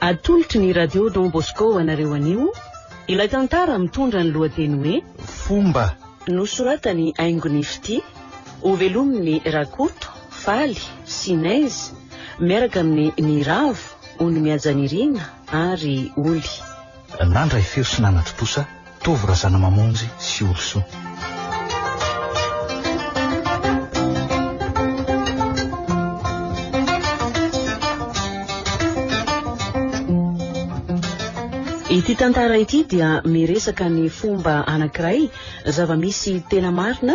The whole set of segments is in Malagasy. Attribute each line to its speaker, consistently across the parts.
Speaker 1: Atolotry ny Radio Don Bosco ho anareo anio ilay tantara mitondra ny lohateny hoe. Fomba.
Speaker 2: Nosoratany
Speaker 1: haingony fitia ho velomin'i Rakoto, Faly, Sinez, miaraka amin'ny Ny Ravo, Ony Mihaja Nirina ary Oly. Nandray
Speaker 2: feo sy nanatri-posa. Tovo Razanamamonjy sy Olosoa.
Speaker 1: Ity tantara ity dia miresaka ny fomba anankiray zava-misy tena marina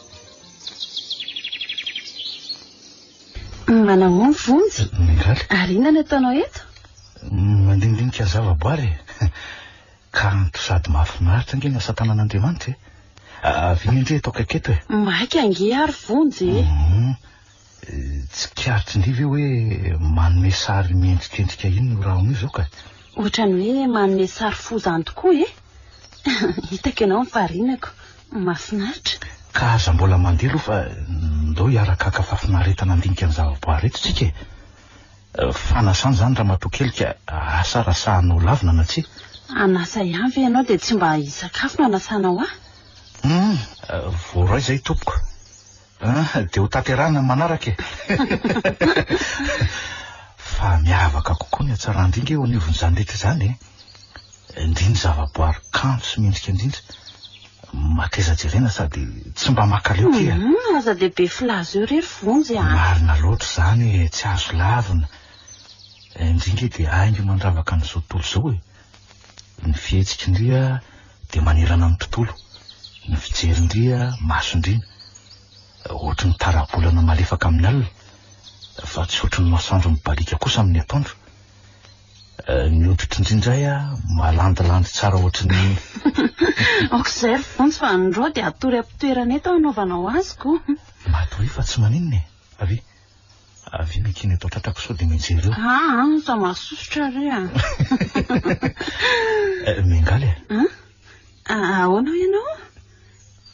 Speaker 1: Manao ny vonjy. Mingaly. Ary inona no ataonao eto? Mandindinika
Speaker 2: zavaboary e. Kanto sady mahafinaritra ange ny asa tanan'Andriamanitra e. Avia indray eto akaiky eto e. Maika ange ary
Speaker 1: vonjy e. Mhm.
Speaker 2: Tsikaritry ny ve hoe manome sary miendrikendrika iny io rahona io zao ka? Ohatrany hoe
Speaker 1: manome sary fo zany tokoa e! Hitako ianao mifarinako. Mafinaritra. Ka aza mbola
Speaker 2: mandeha aloha fa ndao hiaraka haka fafinaretana handinika ny zavaboary eto tsika e! Fanasana zany ramatoa kely ka asa raha sahanao lavina na tsia. An'asa ihany
Speaker 1: ve ianao dia tsy mba hisakafo no anasanao ahy? Hum!
Speaker 2: Voaray zay tompoko. Ah, dia ho tanterahina ny manaraka e. Fa miavaka kokoa ny hatsaran-dringa eo anivon'izany rehetra izany e. Ndry ny zavaboary kanto sy mendrika indrindra. Mateza jerena sady tsy mba makaleo tia. Mhm, aza dia be filaza
Speaker 1: eo irery vonjy ah. Marina loatra
Speaker 2: izany e, tsy azo lavina. Ndry nge dia haingo mandravaka an'izao tontolo izao e. Ny fihetsik'ndria dia manerana ny tontolo, ny fijerindria masondriana, ohatry ny tara-bolana malefaka amin'ny alina, fa tsy ohatry ny masoandro mibaliaka kosa amin'ny atoandro. Ny hoditr'ndria indray malandilandy tsara ohatry ny Aoka
Speaker 1: izay ry Vonjy fa ny rò dia hatory am-pitoerany eto aho hanaovana ho azy ko. Matoria fa tsy
Speaker 2: maninona e! Avy eo eky ny eto an-tratrako sao dia mijery eo. Aa ah, ah, sao mahasosotra
Speaker 1: re a.
Speaker 2: Eh, Mengaly e. Ah? ah, ahoana
Speaker 1: ianao?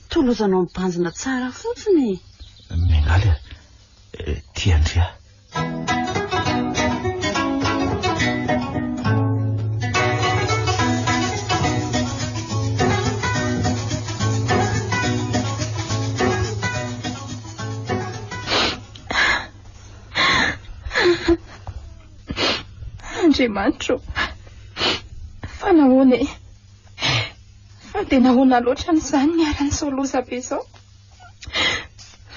Speaker 1: Tolozanao mibanjina tsara fotsiny. Mengaly e.
Speaker 2: Eh, tia Andria.
Speaker 3: Andriamanitro, fa nahoana e? Fa dia nahoana loatra an'izany niara-nisao loza be izao?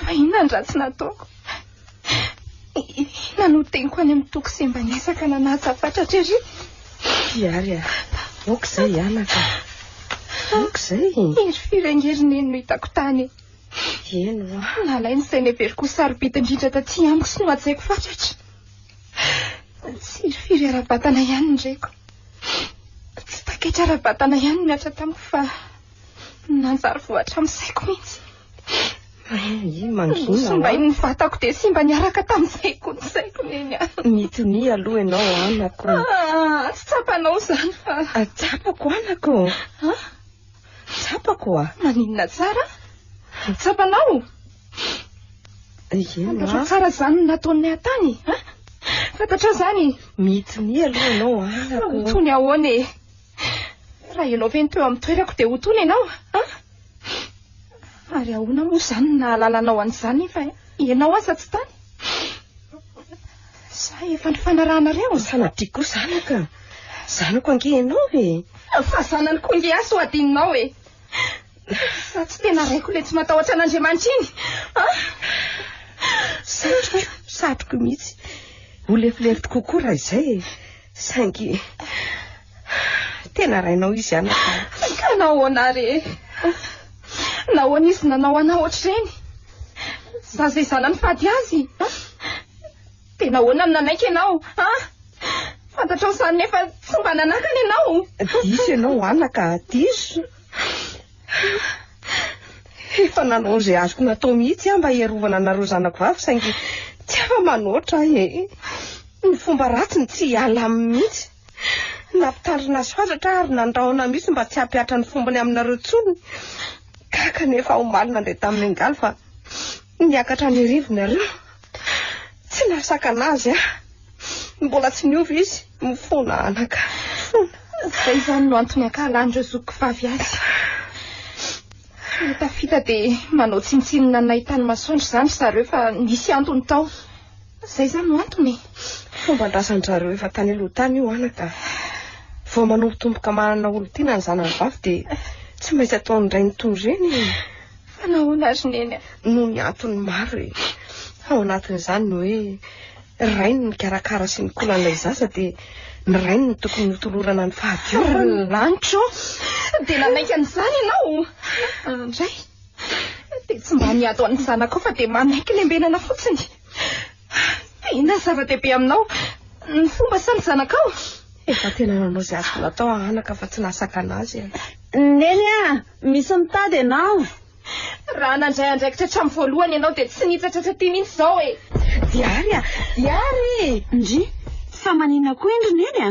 Speaker 3: Fa inona ny ratsy nataoko? Inona no teniko any amin'ny toko semba niasaka nanaja fatratra ery? Hiary
Speaker 4: ah, aoka izay anaka. Aoka izay. Hery firengery
Speaker 3: neny no hitako tany. Eny
Speaker 4: hoa. Nalain' ny saina
Speaker 3: very koa sarobidy indrindra taty amiko sy nohajaiko fatratra. Tsirifiry ara-batana ihany ny reko. Tsy taketra ara-batana ihany ny atra tamiko fa nanjary voatra amin'ny saiko mihitsy. Mangina. Sombain'ny vatako dia simba niaraka tamin'izay koa ny saiko neny aho. Mitonia aloha
Speaker 4: ianao anako. Ah, tsy
Speaker 3: tsapanao izany fa. Ah, tsapako anako.
Speaker 4: Ah? Tsapako oa. Maninona tsara?
Speaker 3: Tsapanao? Eny oa. Fantatrao tsara izany no nataon'ny ahy tany. Ha? Fantatrao izany? Mitsiny aloha
Speaker 4: ianao anako. Ho tony ahoana e?
Speaker 3: Raha ianao ve no teo amin'ny toerako dia ho tony ianao? Ha? Ary ahoana moa izany no nahalala anao an'izany fa ianao aza tsy tany? Sa efa nifanarahanareo? Fa sanatria koa zanaka.
Speaker 4: Zanako ange ianao e. Fa zanany koa
Speaker 3: ange aho sao adinonao e. Fa tsy tena raiko le tsy matahotra an'Andriamanitra iny. Ah!
Speaker 4: Satriko, satriko mihitsy. Ho lefilefitro kokoa raha izay e. Saingy Tena rainao izy ihany aho. Ka nahoana
Speaker 3: ary e? Nahoana izy nanao anao ohatr'ireny? Za izay zanany fady azy. Dia nahoana no nanaiky ianao? Ha? Fantatrao izany nefa tsy mba nanakana ianao. Diso ianao
Speaker 4: anaka, diso. Efa nanao izay azoko natao mihitsy aho mba hierovana anareo zanako vavy saingy tsy afa-manoatra ahy e. Ny fomba ratsiny tsy hiala aminy mihitsy. Nampitarina azy fatratra ary nandrahona mihitsy mba tsy hampihatra ny fombony aminareo intsony. Gaga anefa omaly nandeha tamin'ny angaly fa niakatra ny rivo-nareo. Tsy nahasakana azy aho. Mbola tsy niova izy. Mifona anaka. Mifona.
Speaker 3: Izay izany no antony ankahalan'ireo zokiko vavy azy. Tafita dia manao tsintsinina anay tany masoandro izany ry zareo fa nisy antony tao. Izay izany no antony e! Fomban-drazan-dry
Speaker 4: zareo efa tany aloha tany io anaka. Vao manombotomboka manana olon-tiana ny zanany vavy dia tsy maintsy ataon'ny rainy toy ireny e! Fa nahoana
Speaker 3: ry neny a? Noho ny antony
Speaker 4: maro e! Ao anatin'izany ny hoe ny rainy no mikarakara sy mikola an'ilay zaza dia ny rainy no tokony hotolorana ny fahadiovana. Ry lanitra ô!
Speaker 3: Dia nanaiky an'izany ianao? Indray. Dia tsy mba niato an'ny zanakao fa dia manaiky lembenana fotsiny. Inona zava-dehibe aminao? Ny fomba sa ny zanakao? Efa tena
Speaker 4: nanao izay azoko natao anaka fa tsy nasakana azy e. Neny a,
Speaker 1: misy mitady ianao. Raha
Speaker 3: nandray andraikitra hatramin'ny voalohany ianao dia tsy nitsatratra aty mihitsy izao e. Diary a, diary!
Speaker 4: Ndry, fa
Speaker 1: maninona koa indry Neny a?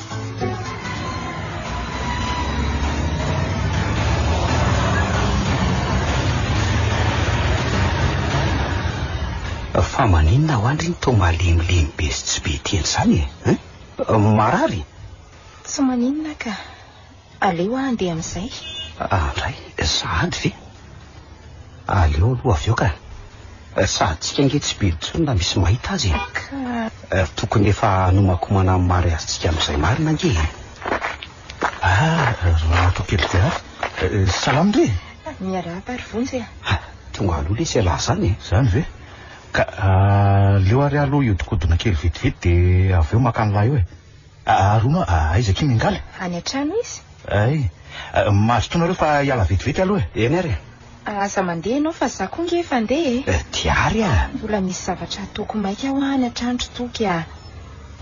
Speaker 2: Fa maninona ho andry iny toa malemilemy be sy tsy be teny izany e? Marary? Tsy
Speaker 3: maninona ka. Aleo aho andeha amin'izay. Ah, indray,
Speaker 2: sahady ve? Aleo aloha avy eo ka. Sahadintsika ange tsy be intsony na misy mahita azy e. Ka. Tokony efa hanomakomana amin'ny mariazintsika amin'izay marina ange e. Ah, Ramatoa kely Diary. Eh, salama re. Miarahaba ary Vonjy
Speaker 3: e. Ah, tonga aloha
Speaker 2: lesy ialahy izany e. Izany ve?
Speaker 5: Ka aleo ary aho aloha hihodinkodina kely vetivety dia avy eo maka an'ilay eo e. Aa Roma a, aiza akia Mingaly? Any an-trano izy.
Speaker 3: Ay,
Speaker 5: mazotoa nareo fa hiala vetivety aloha e. Eny ary e. Aa
Speaker 2: aza mandeha ianao
Speaker 3: fa za koa nge efa handeha e. Eh, ty ary a! Mbola
Speaker 2: misy zavatra
Speaker 3: hataoko maika hoa any an-trano ry Toky a.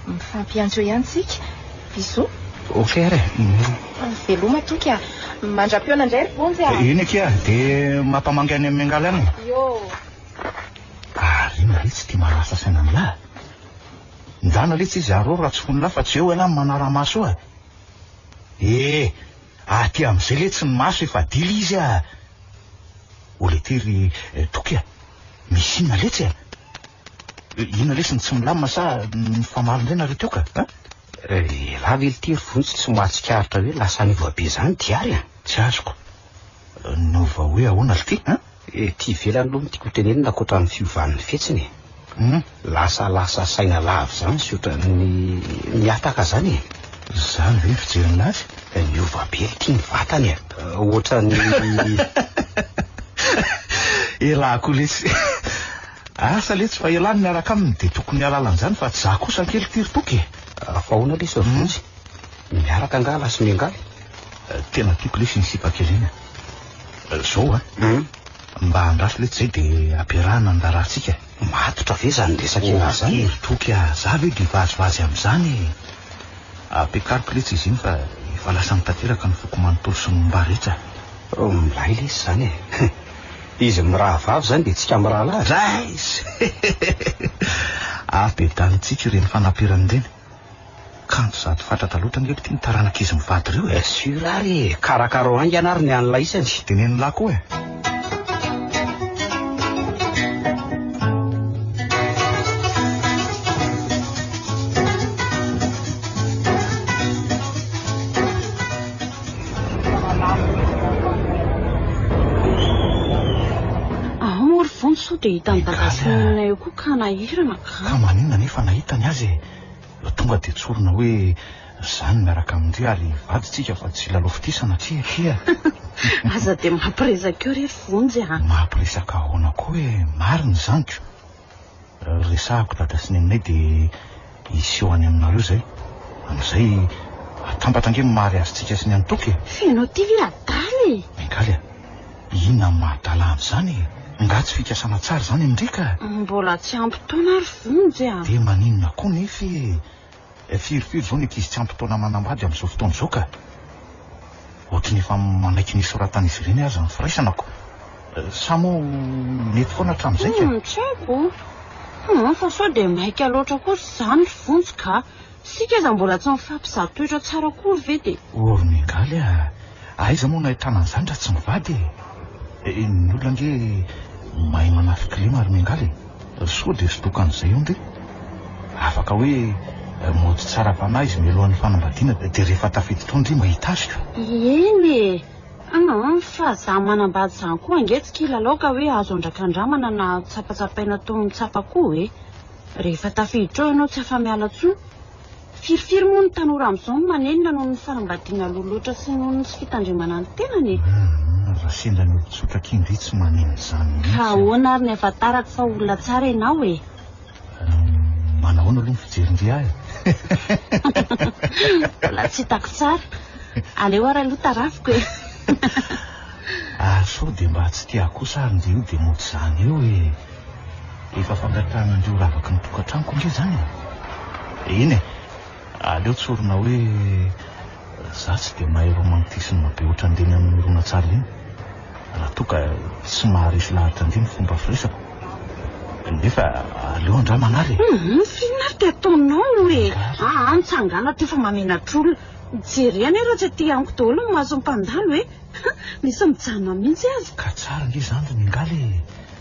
Speaker 3: Mifampiantso eo ihany tsika. Bisous. Ok ary e.
Speaker 2: Veloma
Speaker 3: Toky a. Mandra-pihaona indray ry Bonjy a. Eny akia, dia
Speaker 5: mampamangy any amin'i Mingaly any e. Yoh. Ary inona re tsy tia manasa saina an'lah? Ndana letsy izy arô ratsifonilahy fa tsy eo ialahy ny manaramaso eo a! ee aty amzay letsy ny maso efa dila izy a! o le ty ry Toky a! misy inona letsy a! inona lesy ny tsy milamina sa mifamaly ndray nareo teo ka a!
Speaker 2: Elah ve lty ry Vonjy
Speaker 5: tsy
Speaker 2: mahatsikaritra hoe lasa anivabe zany diary a! tsy azoko.
Speaker 5: No vao hoe ahoana lty a? Ety ivelany
Speaker 6: aloha no tiako hotenenina ankoatra ny fiovan'ny fihetsiny e. Hum, lasa lasa saina lava izany sy ohatran'ny mihataka izany e. Izany ve ny
Speaker 5: fijeriny azy? Niova be lty
Speaker 6: ny vatany e. Ohatran'ny.
Speaker 5: Elah koa letsy. Asa letsy fa elah ny miaraka aminy dia tokony hialala an'izany fa tsy za kosa ankely lty ry toky e. Fa ahoana
Speaker 6: letsy ry vonjy? Miaraka angaha lasy miangaly? Eh, tena
Speaker 5: tiako lesy iny sipa kely iny. Eh, zao a, hmm? mba andraso letsy zay de ampiarahana ny raharahantsika. Matotra ve zany
Speaker 6: resaka ina oh, zany? Hery toky a, za ve
Speaker 5: de vazivazy am'zany e. Ampiakariko letsy izy iny fa efa lasany tanteraka ny foko manontolo sy momba rehetra. Oh, milay
Speaker 6: lesy zany e. Izy mirahavavy zany de tsika mirahalahy. Rais!
Speaker 5: Avy de danintsika ireny fanaperany ireny. Kanjo zato fatratra loatra ange ry ty ny taranaka izy mivady ireo e. Sûr ary e,
Speaker 6: karakarao haingana ary ny an'ilay isany. Dia ny an'ilay koa e.
Speaker 5: Ahoana
Speaker 1: moa ry Vonjy sao dia hitan'i Dada sy Nina eo koa ka nahirana. Ka maninona anefa
Speaker 5: nahita ny azy e? Vao tonga dia tsorina hoe zany miaraka amin dry ary vady tsika fa tsy lalaofitisana aty aky a! Aza
Speaker 1: dia mampiresaka eo re ry vonjy a! Mampiresaka ahoana
Speaker 5: koa e? Marina izany ko! Resahako dada sy neninay dia hiseho any aminareo izay. Amin'izay atambatra ange ny maha-reazy tsika sy ny an'i Toky e! Feno aty ve
Speaker 1: adala e! Bengaly a!
Speaker 5: Inona no maha-adala an'izany e? Nga tsy fikasana tsara izany amin-dry ka? Mbola tsy ampy
Speaker 1: taona ary vonjy a! Dia maninona koa
Speaker 5: nefa e? Firy firy izao ny ankizy tsy ampy taona manambady amin'izao fotoana izao ka! Ohatry ny efa manaiky ny hisoratan'izy ireny aza ny firaisana ko! Sa moa mety foana hatramin'izay ka? Tsy haiko!
Speaker 1: Fa sao dia maika loatra kosa izany ry vonjy ka! Isika aza mbola tsy mifampizaha toetra tsara akory ve de. Ory miangaly a!
Speaker 5: Aiza moa no ahitana an'izany raha tsy mivady e! Eh, ny olona ange mahay manafy kilema ry miangaly e! Sao dia sodoka an'izay eo nge? Afaka hoe mody tsara fanahy izy mialohan'ny fanambadiana dia rehefa tafiditra ao ndry mba hitasika. Eny
Speaker 1: e! Aa! fa za manambady izany koa ange tsy kilalao ka hoe azo andrakandramana na tsapatsapaina toy ny tsapa koa e! Rehefa tafiditra ao ianao tsy afa-miala intsony. Firifiry moa ny tanora amin'izao no manenina noho ny fanambadiana aloha loatra sy noho ny tsy fitandremana ny tenany e! Inona raha sendra
Speaker 5: ny olon-tsotra akia ndry tsy manenina izany mihitsy? Ka ahoana ary ny
Speaker 1: ahafantarako fa olona tsara ianao e?
Speaker 5: Manahoana aloha ny fijery ndry ahy?
Speaker 1: Mbola tsy hitako tsara. Aleo ary aloha tarafiko e!
Speaker 5: Ary sao dia mba tsy tiahy kosa ary ndry io dia mody izany eo e! Efa fangatran'andrio ravaky ny tokantranoko ange zany e! Eny e! Aleo tsorina hoe za tsy dia mahay romantisme be ohatran'ireny amin'ny horonantsary ireny raha toa ka tsy maharesy lahatra ange ny fomba firesako. Nefa aleo andrama anary e! Humm, inona ary ty
Speaker 1: ataonao e! Aa, mitsangàna ty fa mamenatr'olona. Jereo anie raha tsy aty amiko daholo ny mason'ny mpandalo e! Misy mijanona mihitsy aza. Ka tsara ange zany ry
Speaker 5: Mingaly e!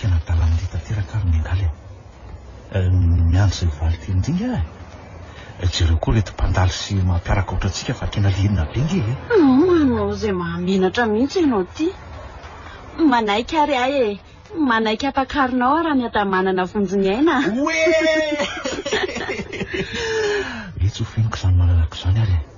Speaker 5: Tena dalambe tanteraka ary miangaly aho. Miandry izay valy teny indrindra aho e. Jereo koa ireto mpandalo sy mampiaraka aotra antsika fa tena liana be nge e. Manao izay
Speaker 1: mahamenatra mihitsy ianao ity. Manaiky ary ahy e. Manaiky hampakarinao aho raha miadanà manana vonjiny aina. Oee!
Speaker 5: Etsy ho feniko izany malalako izany ary e.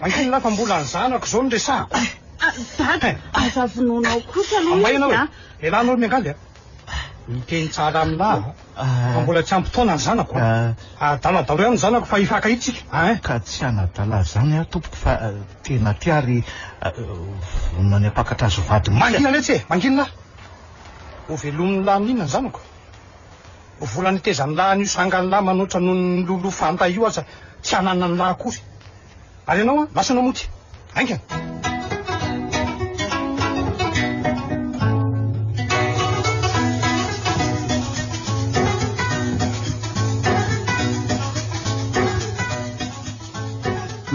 Speaker 7: Ankohon'lah fa mbola ny zanako izao no resahako.
Speaker 1: Dada,
Speaker 7: aza
Speaker 1: vonoina ao kosa aloha izy a. May
Speaker 7: ianao e.
Speaker 1: Lehilahy ianao ry
Speaker 7: Miangaly a. Miteny tsara amin'lah fa mbola tsy ampy taona ny zanako a. Adala daholo ihany ny zanako fa hifankahita isika a hein. Ka tsy hanadala
Speaker 2: izany aho tompoko fa tena aty ary vonona ny hampakatra azy ho vady mihitsy aho. Mangina letsy e, mangina
Speaker 7: lah. Hovelomin'lah amin'inona ny zanako? Vola nitezan'ny lahiny io sangan'ny lahy manoatra noho ny lolo fanta io aza tsy hananan'ny lahy akory. Ary ianao an, lasa namoty. Haingana.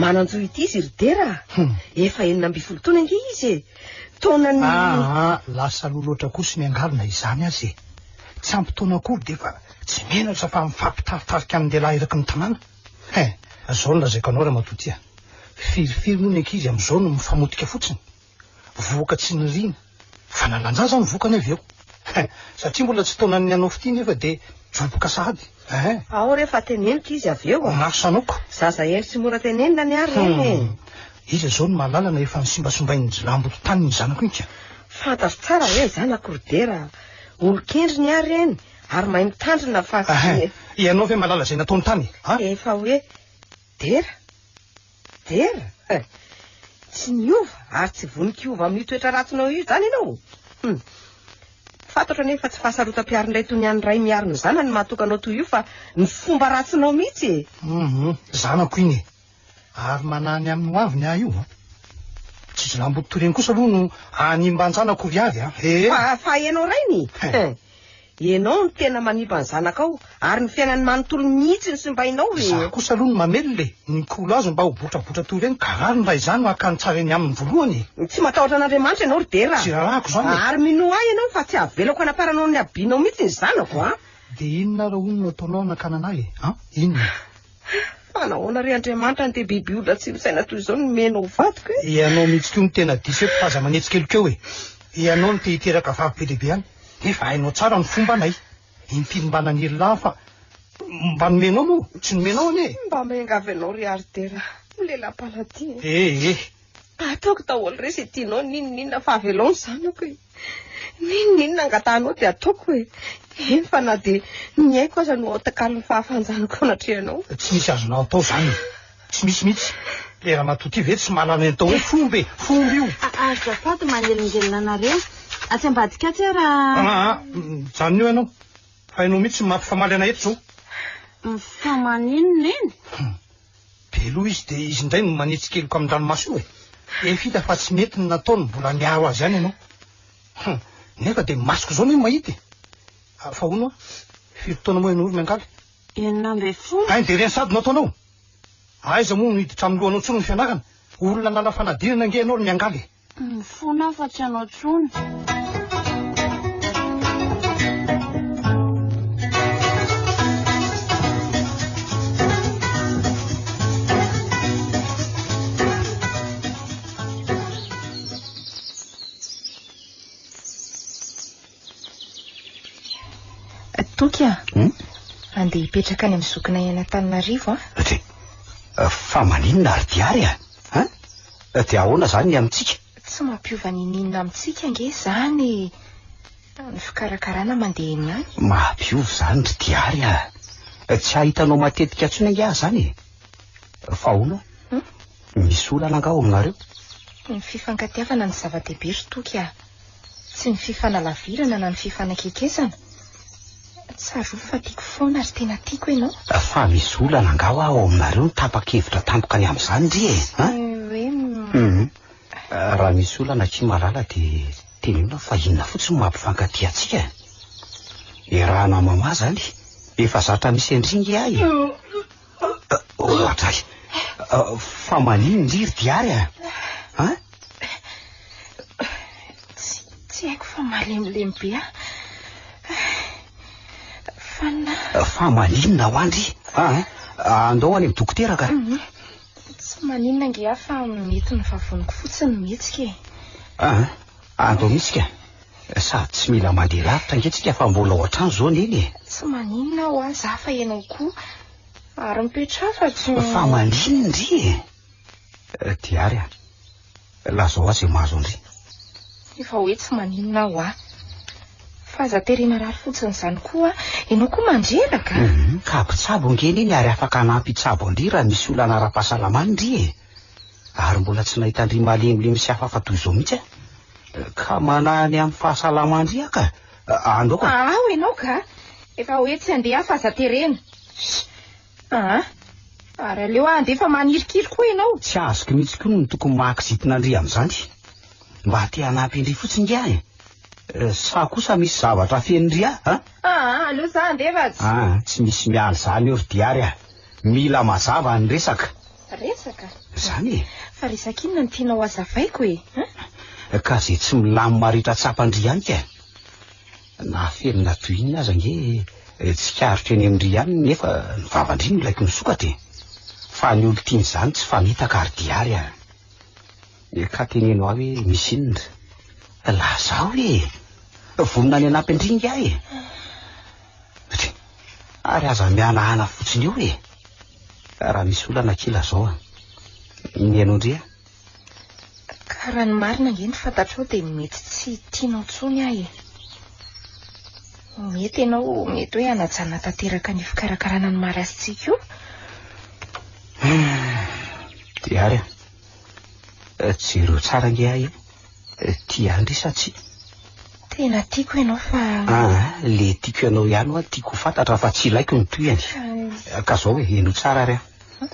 Speaker 4: Manan-jo ity izy ry Dera a! Hum. Efa enina ambin'ny folo taona ange izy e! Taonan'ny. Aa, lasa lolo ohatrak'osy
Speaker 7: miangalina izany aza e! tsy ampy taona akory dia efa tsy menatra fa mifampitaritarika amin'ny lehilahy eraky ny tanàna. He, izao no lazaiko anao ramatoa tia, firifiry moa ny ankizy amin'izao no mifamotika fotsiny, vohoka tsy niriana, fanalan-jaza no vokany avy eo. He, satria mbola tsy taonan'ny hanao fitia nefa dia joboka sahady. Ehe. Ao re fa
Speaker 4: teneniko izy avy eo a! Maro sanoko. Zaza
Speaker 7: heno sy mora
Speaker 4: tenenina ny ahy ry Neny e! Hum. Iza izao no
Speaker 7: mahalala na efa nisimbasombain'ny jilamboto tany ny zanako iny ka! Fantatro tsara
Speaker 4: hoe ny zanako ry Dera olon-kendry ny ahy ry Neny ary mahay mitandrina fa. Ehe. Ianao ve
Speaker 7: mahalala izay nataony tany a? Efa hoe
Speaker 4: Dera? Dera? Eh, tsy niova ary tsy vonik' hiova amin'io toetra ratsinao io izany ianao. Hum. Fantatro anie fa tsy fahasarotam-piarin-dray toy ny an'ny ray miaro ny zanany mahatoka anao toy io fa ny fomba ratsinao mihitsy e. Mhm, zanako
Speaker 7: iny e. Ary manany amin'ny hoaviny ahy io a. Tsy jilamboto toy ireny kosa aloha no hanimba an-janako ry avy a. He. Fa fa ianao rainy.
Speaker 4: He. Ianao no tena manimba ny zanakao ary ny fiainany manontolo mihitsy no simbainao e! Izaho kosa aloha no
Speaker 7: mamelona e! Ny Mikolo azy mba ho botrabotra toy ireny ka rariny raha izany no hakany tsara eny aminy voalohany e! Tsy matahotra an'Andriamanitra
Speaker 4: ianao ry Dera a! Tsy rarahako izany e! Ary
Speaker 7: minoa ahy ianao
Speaker 4: fa tsy havelako hanaparanao ny habianao mihitsy ny zanako a! Dia inona ary
Speaker 7: hono no ataonao hanakanana ahy e? An? Inona? Hah! Fa
Speaker 4: nahoana re Andriamanitra andeha biby olona tsy misaina toy izao no nomena ho vadiko e? Ianao mihitsy koa no
Speaker 7: tena diso eto fa aza manetsy kely koa e! Ianao no te hiteraka vavy be dia be any nefa hainao tsara ny fombanay. Impiry mba naniry lahy fa mba nomenao moa tsy nomenao anie e! Mba miangavy anao ry
Speaker 4: Ardera, ho lelam-paladia e! Ee! Ataoko daholo re izay tianao, n'inon'inona fa avelao ny zanako e. N'inon'inona angatahanao dia ataoko e. Eny fa na dia ny aiko aza no atakalon'ny fahafahan-janako eo anatrehanao. Tsy misy azonao atao
Speaker 7: izany e. Tsy misy mihitsy. Ilay ramatoa ity ve tsy manana ny atao hoe fomba e. Fomba io. Azafady
Speaker 1: manelingelina anareo. Atsy ambadika atsy ara. Aa, mijanona eo ianao.
Speaker 7: Fa ianao mihitsy no mampifamaly anay eto izao. Mifamaly
Speaker 1: inona eny? Be
Speaker 7: loha izy dia izy indray no manitsy keloka amin'ny ranomaso io e. Efa hita fa tsy mety ny nataony, mbola miaro azy ihany ianao. Hum, nefa dia masoko izao no mahita e. Ah, fa hono ah, firy taona moa ianao ry Miangaly? Enina ambin'ny folo.
Speaker 1: Any dia ireny sady no
Speaker 7: ataonao? Aiza moa no hiditra amin'ny lohanao intsony ny fianarana? Olona nanafanadinana ange ianao ry Miangaly e. Mifona aho fa
Speaker 1: tsy hanao
Speaker 3: Toky a. Hmm? Andeha hipetraka any amin'ny zokinay any Antananarivo a.
Speaker 6: Fa maninona ary diary a? Dia ahoana izany ny amintsika? Tsy mampiova
Speaker 3: n'inon'inona amintsika ange izany ny fikarakarana mandeha eny ihany. Mampiova izany ry
Speaker 6: Diary a! Tsy ahitanao matetika intsony ange aho izany e! Fa ahoana? Hmm? Misy olana angaha ao aminareo? Ny
Speaker 3: fifankatiavana no zava-dehibe ry Toky a! Tsy ny fifanalavirana na ny fifanakekesana. Tsarovy fa tiako foana ary tena tiako ianao. Fa misy olana
Speaker 6: angaha hoa ao aminareo ny tapa-kevitra tampoka ny amin'izany ndry e? Tsy hoe Humm. Raha misy olana akia malala dia teneno aho fa inona fotsiny no mampifankatia antsika e? Iaraha-namamà izany, efa zatra misy an-dry nge ahy e! Ohatra ahy. Fa malin ndry ry diary a. Ha?
Speaker 3: Tsy haiko fa malemilemy be a.
Speaker 6: Fa na. Fa maninona ho andry. Ha? Andao any amin'ny dokotera ka. Mhm. Tsy
Speaker 3: maninona ngia fa mety ny vavoniko fotsiny mihetsika e. Ah,
Speaker 6: andao mihitsy ka. Sady tsy mila mandeha lavitra ange tsika fa mbola ao an-trano izao neny e. Tsy maninona
Speaker 3: aho an za fa ianao koa ary mipetraha fa tsy. Fa maninona
Speaker 6: ndry e? Eh, dia ary an.
Speaker 3: Lazao ahy izay
Speaker 6: mahazo an-dry.
Speaker 3: Efa hoe tsy
Speaker 6: maninona
Speaker 3: aho an. Fa aza tery marary fotsiny izany koa an. Ianao koa mandreraka. Hum, ka mpitsabo
Speaker 6: ange neny ary afaka hanampy hitsabo an-dry raha misy olana ara-pahasalamana ndry e. ary mbola tsy nahita an-dry malemilemy sy hafahafa toy izao mihitsy aho. Ka manahy ny amin'ny fahasalaman-dry aho ka. Andao ka. Aa, ho ianao ka.
Speaker 3: Efa hoe tsy handeha aho fa aza terena. Shh! Aa, ary aleo aho handeha fa manirikiry koa ianao. Tsy azoko mihitsy koa
Speaker 6: ny tokony mahakizitina an-dry amin'izany. Mba te hanampy an-dry fotsiny nge aho e. Sa kosa misy zavatra afenin-dry ahy, an? Aa, aleo
Speaker 3: izaho handeha fa tsy. Aa, tsy misy miala
Speaker 6: izany eo ry Diary a. Mila mazava ny resaka. Resaka?
Speaker 3: Izany e!
Speaker 6: Fa resaka inona
Speaker 3: no tianao hazavaiko e? An?
Speaker 6: Ka izay tsy milamina rehetra tsapan-dry ihany ka e! Na feno na toy inona aza ange tsikaritro eny amin-dry ihany nefa ny vavan-dry no ilaiko misokatra e! Fa ny olon-tiana izany tsy famitaka ary dia ary an! Ka teneno ahy hoe misy inona ry? Lazao e! Vonona ny hanampy an-dry ingahy e! Ary aza mihanahana fotsiny eo e! Raha misy olana kila zao a. Ny anao ndry a?
Speaker 3: Ka raha ny marina ange ny fantatrao dia mety tsy tianao intsony aho e. Mety ianao mety hoe hanajana tanteraka ny fikarakarana ny maha rasintsika io.
Speaker 6: Dia ary a. Jereo tsara ange ahy e. Tia an-dry sa tsia? Tena
Speaker 3: tiako ianao fa... Ah, le
Speaker 6: tiako ianao ihany hoa tiako ho fantatra fa tsy ilaiko ny tohiny. Ka zao e, henoy tsara ary an.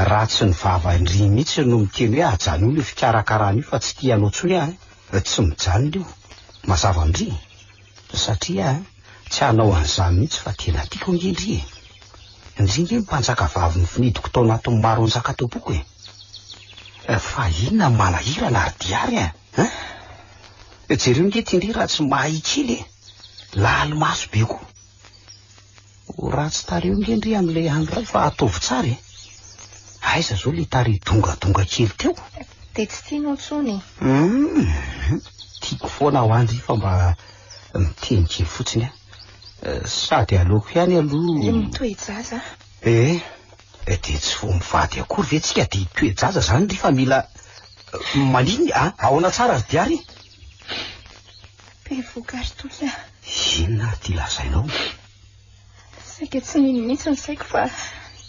Speaker 6: Raha tsy ny vavan-dry mihitsy no miteny hoe ajanony io fikarakarana io fa tsy tia anao intsony aho an, tsy mijanona io. Mazava an-dry? Satria tsy hanao an'izany mihitsy fa tena tiako ange ndry e. Ndry nge ny mpanjaka vavy nofinidiko tao anatin'ny maro anjakataboko e. Eh, fa inona ny manahirana ry Diary e? Eh? Jereo nge ty ndry raha tsy mahay kely e. Laly maso be koa. Ho ratsy tarehy nge ndry an le andro ray fa ataovy tsara e! Aiza zao le tarehy dongadonga kely teo? De tsy tianao
Speaker 3: tsony e! Hum! Tiako
Speaker 6: foana aho andry fa mba miteny kely fotsiny an! Sady aleoko ihany aloha. Le mitoe-jaza a!
Speaker 3: Eh!
Speaker 6: Eh de tsy vao mivady akory ve tsika de hitoe-jaza zany ndry fa mila maninona a! Ahoana tsara ry Diary? Be
Speaker 3: vokary toy aho. Inona ary ity
Speaker 6: lazainao?
Speaker 3: Saika tsy nino mihitsy ny saiko fa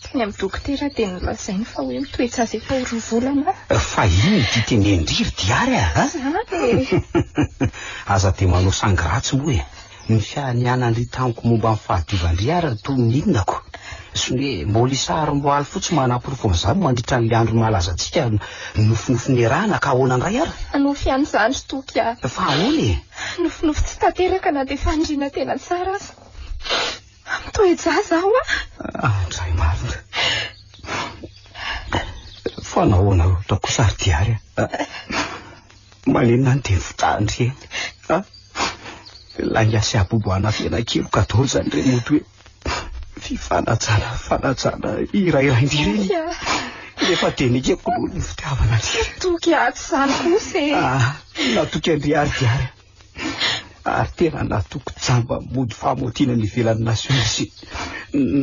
Speaker 3: teny amin'ny dokotera dia nolazainy fa hoe mitoetra azy efa ho roa volana aho. Fa inona ity
Speaker 6: tenendry ry Diary a? Aza dia manao sangy ratsy moa e! Ny fianianan'ny tamiko momba ny fahadiovan-dry ary toa mihinako. Sune, mbola isaharim-boaly fotsiny manaporofo an'izany mandritra an'ilay andro mahalaza antsika nofinofy niarahana ka ahoana indray ary? Nofy ihany izany ry
Speaker 3: Toky a! Fa ahoana e?
Speaker 6: Nofinofy tsy
Speaker 3: tanteraka na dia fandriana tena tsara aza. Mitoe-jaza aho a! Andray
Speaker 6: marina. Fa nahoana loatra kosa ry Diary a! Maninona ny teny fitandry e! Ilay Asiabobo anafenakely ka dôly izany re mody hoe. Fifanajana, fanajana iray randy ireny. Efa denika kolony ny fitiavana azy. Toky atsy
Speaker 3: izany kosa e. Ah, natoky Andriary
Speaker 6: diary. Ary tena natoky jamba mody famotiana ny ivelan'ny nasiona sy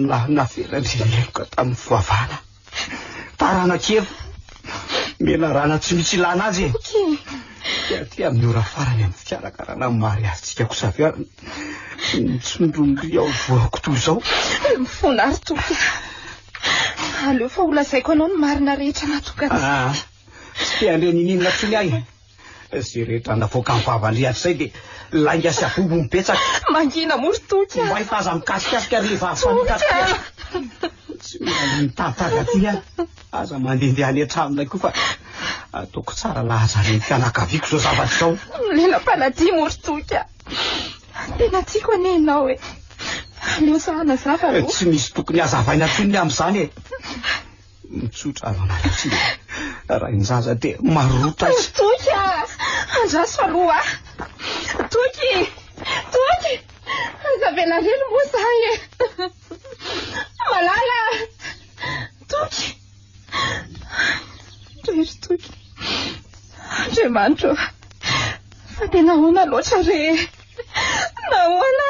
Speaker 6: na navelan'ny heloka tamin'ny fivavahana. Tarana kely. Menarana tsy misy ilana azy e. Ok. Dia aty amin'ny ora farany amin'ny fikarakarana amin'ny mariazintsika ko saviarana. Nitsondromby ao voako toy izao. Mifona ary
Speaker 3: tompoko. Aleo fa ho lazaiko anao ny marina rehetra natokana. Ah, tsy
Speaker 6: te handre ny inona inona intsony ahy. Izay rehetra navoaka ny vavan'Ry Andrisay dia lainga sy abobo betsaka. Mangina moa ry Toky
Speaker 3: a! Mahita aza mikasikasika
Speaker 6: ry vavy fanita Tsy mila mitantara aty aho. Aza mandehandeha any an-tranonay koa fa ataoko tsara lahaza ny fianakaviako izao zavatra izao. Nomenam-panadia moa
Speaker 3: ry Toky a! Tena tiako anie ianao e! Aleo sahy hanazava aloha. Tsy misy tokony
Speaker 6: hazavaina intsony ny amin'izany e! Mitsotra avy maraina. Rain-jaza dia marota. Toky ah!
Speaker 3: Andraso aloha. Toky! Toky! Anjavenarelo moa zany e. Malala! Toky! Rery toky. Andriamanitro. Fa tena ahoana loatra re? Nahoana?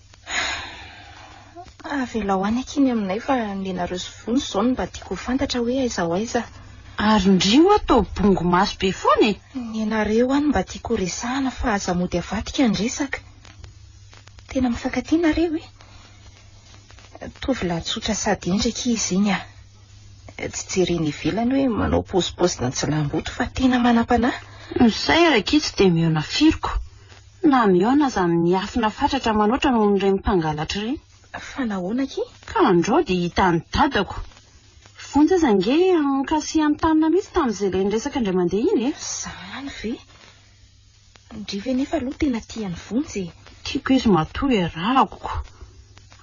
Speaker 3: Avelao any akia ny aminay fa nenareo sy vony izao no mba tiako ho fantatra hoe aiza ho aiza. Ary ndry
Speaker 1: oa to bongo maso be foana e! Nenareo any mba
Speaker 3: tiako ho resahana fa aza mody avadika ny resaka. Tena mifankatia nareo e! Tovolahy tsotra sady hendry akia izy iny a! Tsy jerena ivelany hoe manao paozipaozin'antsilamboto fa tena manam-panahy. Ny sahy ary akia
Speaker 1: tsy dia mihaona firiko. Na mihaona aza amin'ny hiafina fatratra manoatra noho ireny mpangalatra ireny. Fa nahoana akia?
Speaker 3: Ka andreo dia
Speaker 1: hitan'i dadako. Vonjy aza ange ankasihan'i Tanina mihitsy tamin'izay ilay niresaka indray mandeha iny e! Zany ve?
Speaker 3: Ndry ve nefa aloha tena tian'i Vonjy e! Tiako izy matoa
Speaker 1: iarahako ko.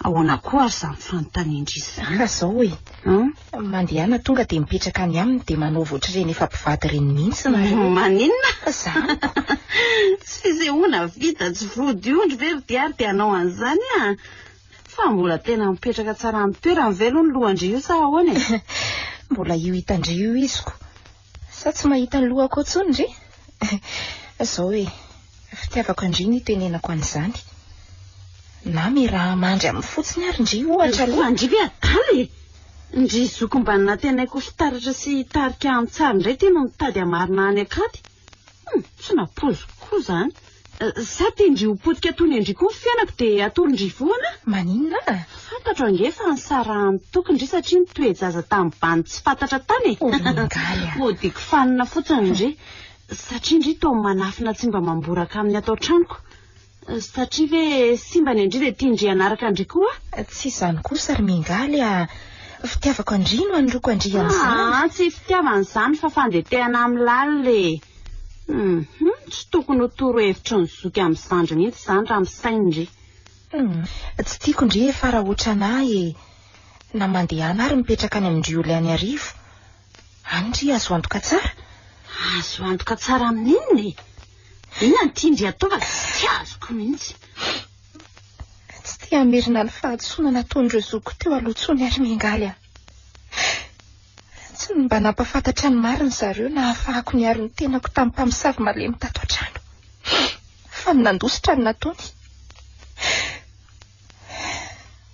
Speaker 1: Ahoana koa ary izany fanontanian-dry izany? Ka izao e!
Speaker 3: Mandehana tonga dia mipetraka any aminy dia manaova ohatr'ireny efa mpivady ireny mihitsy nareo. Maninona? Zany. Tsy
Speaker 1: fisehoana vita tsy vody ondry ve ry Diary dia hanao an'izany an! Fa mbola tena mipetraka tsara amin'ny toerany ve aloha ny lohan-dry io sa ahoana e? Mbola io
Speaker 3: hitan-dry io iziko. Sa tsy mahita ny lohako ao intsony re? Izao e, fitiavako an-dry no itenenako an'izany. Na miaraha-mandry aminy fotsiny ary ndry ohatra aloha. An-dry ve adala e?
Speaker 1: Ndry zoky mba nantenaiko ho fitaratra sy hitarika an-tsary indray tena mitady hamarina any an-katy. Hum, tsy nampoiziko koa izany. Sa te-ndry ho potika toy ny an-dry koa ny fiainako dia atoron-dry foana? Maninona a?
Speaker 3: Fantatro ange fa
Speaker 1: nisarahan'ny tokon-dry satria nitoe-jaza tamim-bany tsy fantatra tany e! Oringaly a! Hodiko
Speaker 3: fanina fotsiny
Speaker 1: ndry satria ndry toa manafina tsy mba mamboraka amin'ny ato an-tranoko. Satria ve simba ny an-dry dia tian-dry hanaraka an-dry koa aho? Tsy izany kosa
Speaker 3: ry Mingaly a! Fitiavako an-dry no anoroako an-dry amin'izany. Aa, tsy fitiavana
Speaker 1: izany fa fandetehana amin'ny lalina e! Hum tsy tokony ho toro hevitry ny zoky amin'ny zandry mihitsy izany raha misaina ndry. Hum
Speaker 3: tsy tiako ndry e fa raha otrana ahy e na mandehana ary mipetraka any amin-dry oly any arivo any ndry azo antoka tsara. Azo
Speaker 1: antoka tsara amin'inona e? Inona no tian-dry atao fa tsy azoko mihitsy.
Speaker 3: Tsy te hamerina ny fahadisoana nataon'ireo zokiko teo aloha intsony ary miangaly aho. Tsy ny mba nampafantatra ny marina ry zareo no nahafahako niaro ny tenako tamin'ny mpamosavy malemy tato an-trano, fa ny nandositra no nataony.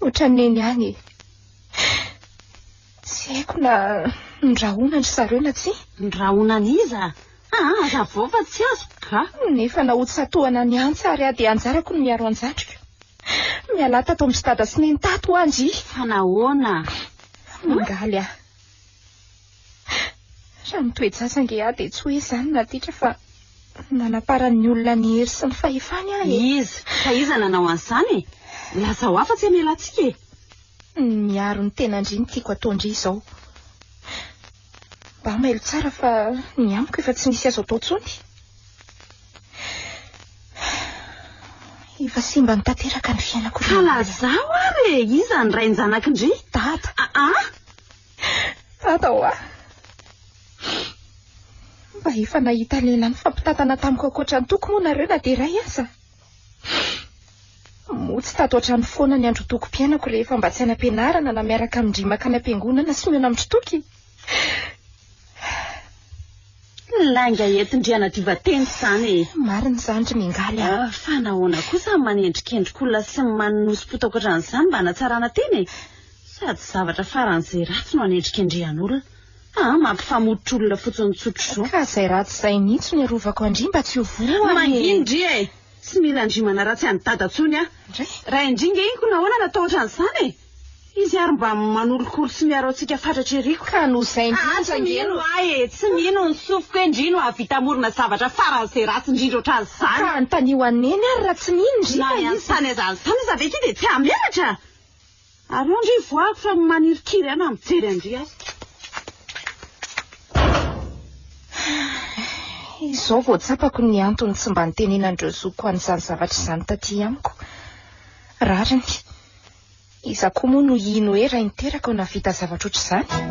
Speaker 3: Ohatran'ny neny ihany e. Tsy haiko na nirahona ry zareo na tsia. Nirahona an'iza?
Speaker 1: Aa aza vao fa tsy azoko ka. Nefa na ho tsatohana
Speaker 3: ny antsy ary aho dia anjarako ny miaro an-jatriko. Mialà tato amin'i Dada sy Neny tato ho'a ndry. Fa nahoana?
Speaker 1: Mangaly
Speaker 3: aho. Raha mitoe-jaza ange aho dia tsy hoe izany Natitra fa manaparan'ny olona ny hery sy ny fahefany aho e. Iza? Fa iza
Speaker 1: nanao an'izany e? Lazao aho fa tsy hamelantsika e. Ny miaro
Speaker 3: ny tena ndry no tiako atao ndry izao. Mba mailo tsara fa ny amiko efa tsy misy azo atao tsony. Efa simba ny tanteraka ny fiainako. Ka lazao
Speaker 1: ary e, iza ny rain-janakindry? Dada. Aa. Ah, ah. Dada hoa.
Speaker 3: Mba efa nahita lehilahy nifampitantana tamiko ankoatra ny toko moa nareo na dia iray aza. Moa tsy tato an-trano foana ny androtokom-piainako rehefa mba tsy any am-pianarana na miaraka amin-dry makany am-piangonana sy mihaona amin'ny toky?
Speaker 1: Lainga entin-dRianadiva-teny izany e! Marina izany ry Mingaly
Speaker 3: a! Ah, fa nahoana kosa
Speaker 1: ny manendrikendrik'olona sy ny manonosipotaoka ohatran'izany mba hanatsarana tena e? Sady zavatra faran'izay ratsy no anendrikendrehan'olona. Aa mampifamototra olona fotsiny tsotro zao. Ka zay ratsy zay
Speaker 3: mihitsy no iarovako an-dry mba tsy ho voan e! Manginy ndry e!
Speaker 1: Tsy mila an-dry manaratsy an'i dada tsony aho. Ndray? Raha indry nge iny ko nahoana natao otran'izany e! Izy ary mba manolokolo sy miaro antsika fatratra ery ko. Ka noho izay ndry aza nge
Speaker 3: no. Aa tsy mino ahy
Speaker 1: e! Tsy mino ny sofiko hoe ndry no hahavita hamorona zavatra faran'izay ratsy indrindra otran'izany. Ka anontanio an'i
Speaker 3: neny ary raha tsy mino ndry fa izy. Na ny hanontany aza an'izany
Speaker 1: aza ve ity dia tsy hahamelatra? Ary eo ndry voako fa manirikiry ahy na mijery an-dry aho.
Speaker 3: Izao vao tsapako ny antony tsy mba nitenenan'ireo zokiko an'izany zavatra izany taty amiko. Rariny. Iza koa moa no hino hoe rainy teraka ho nahavita zavatra ohatr'izany?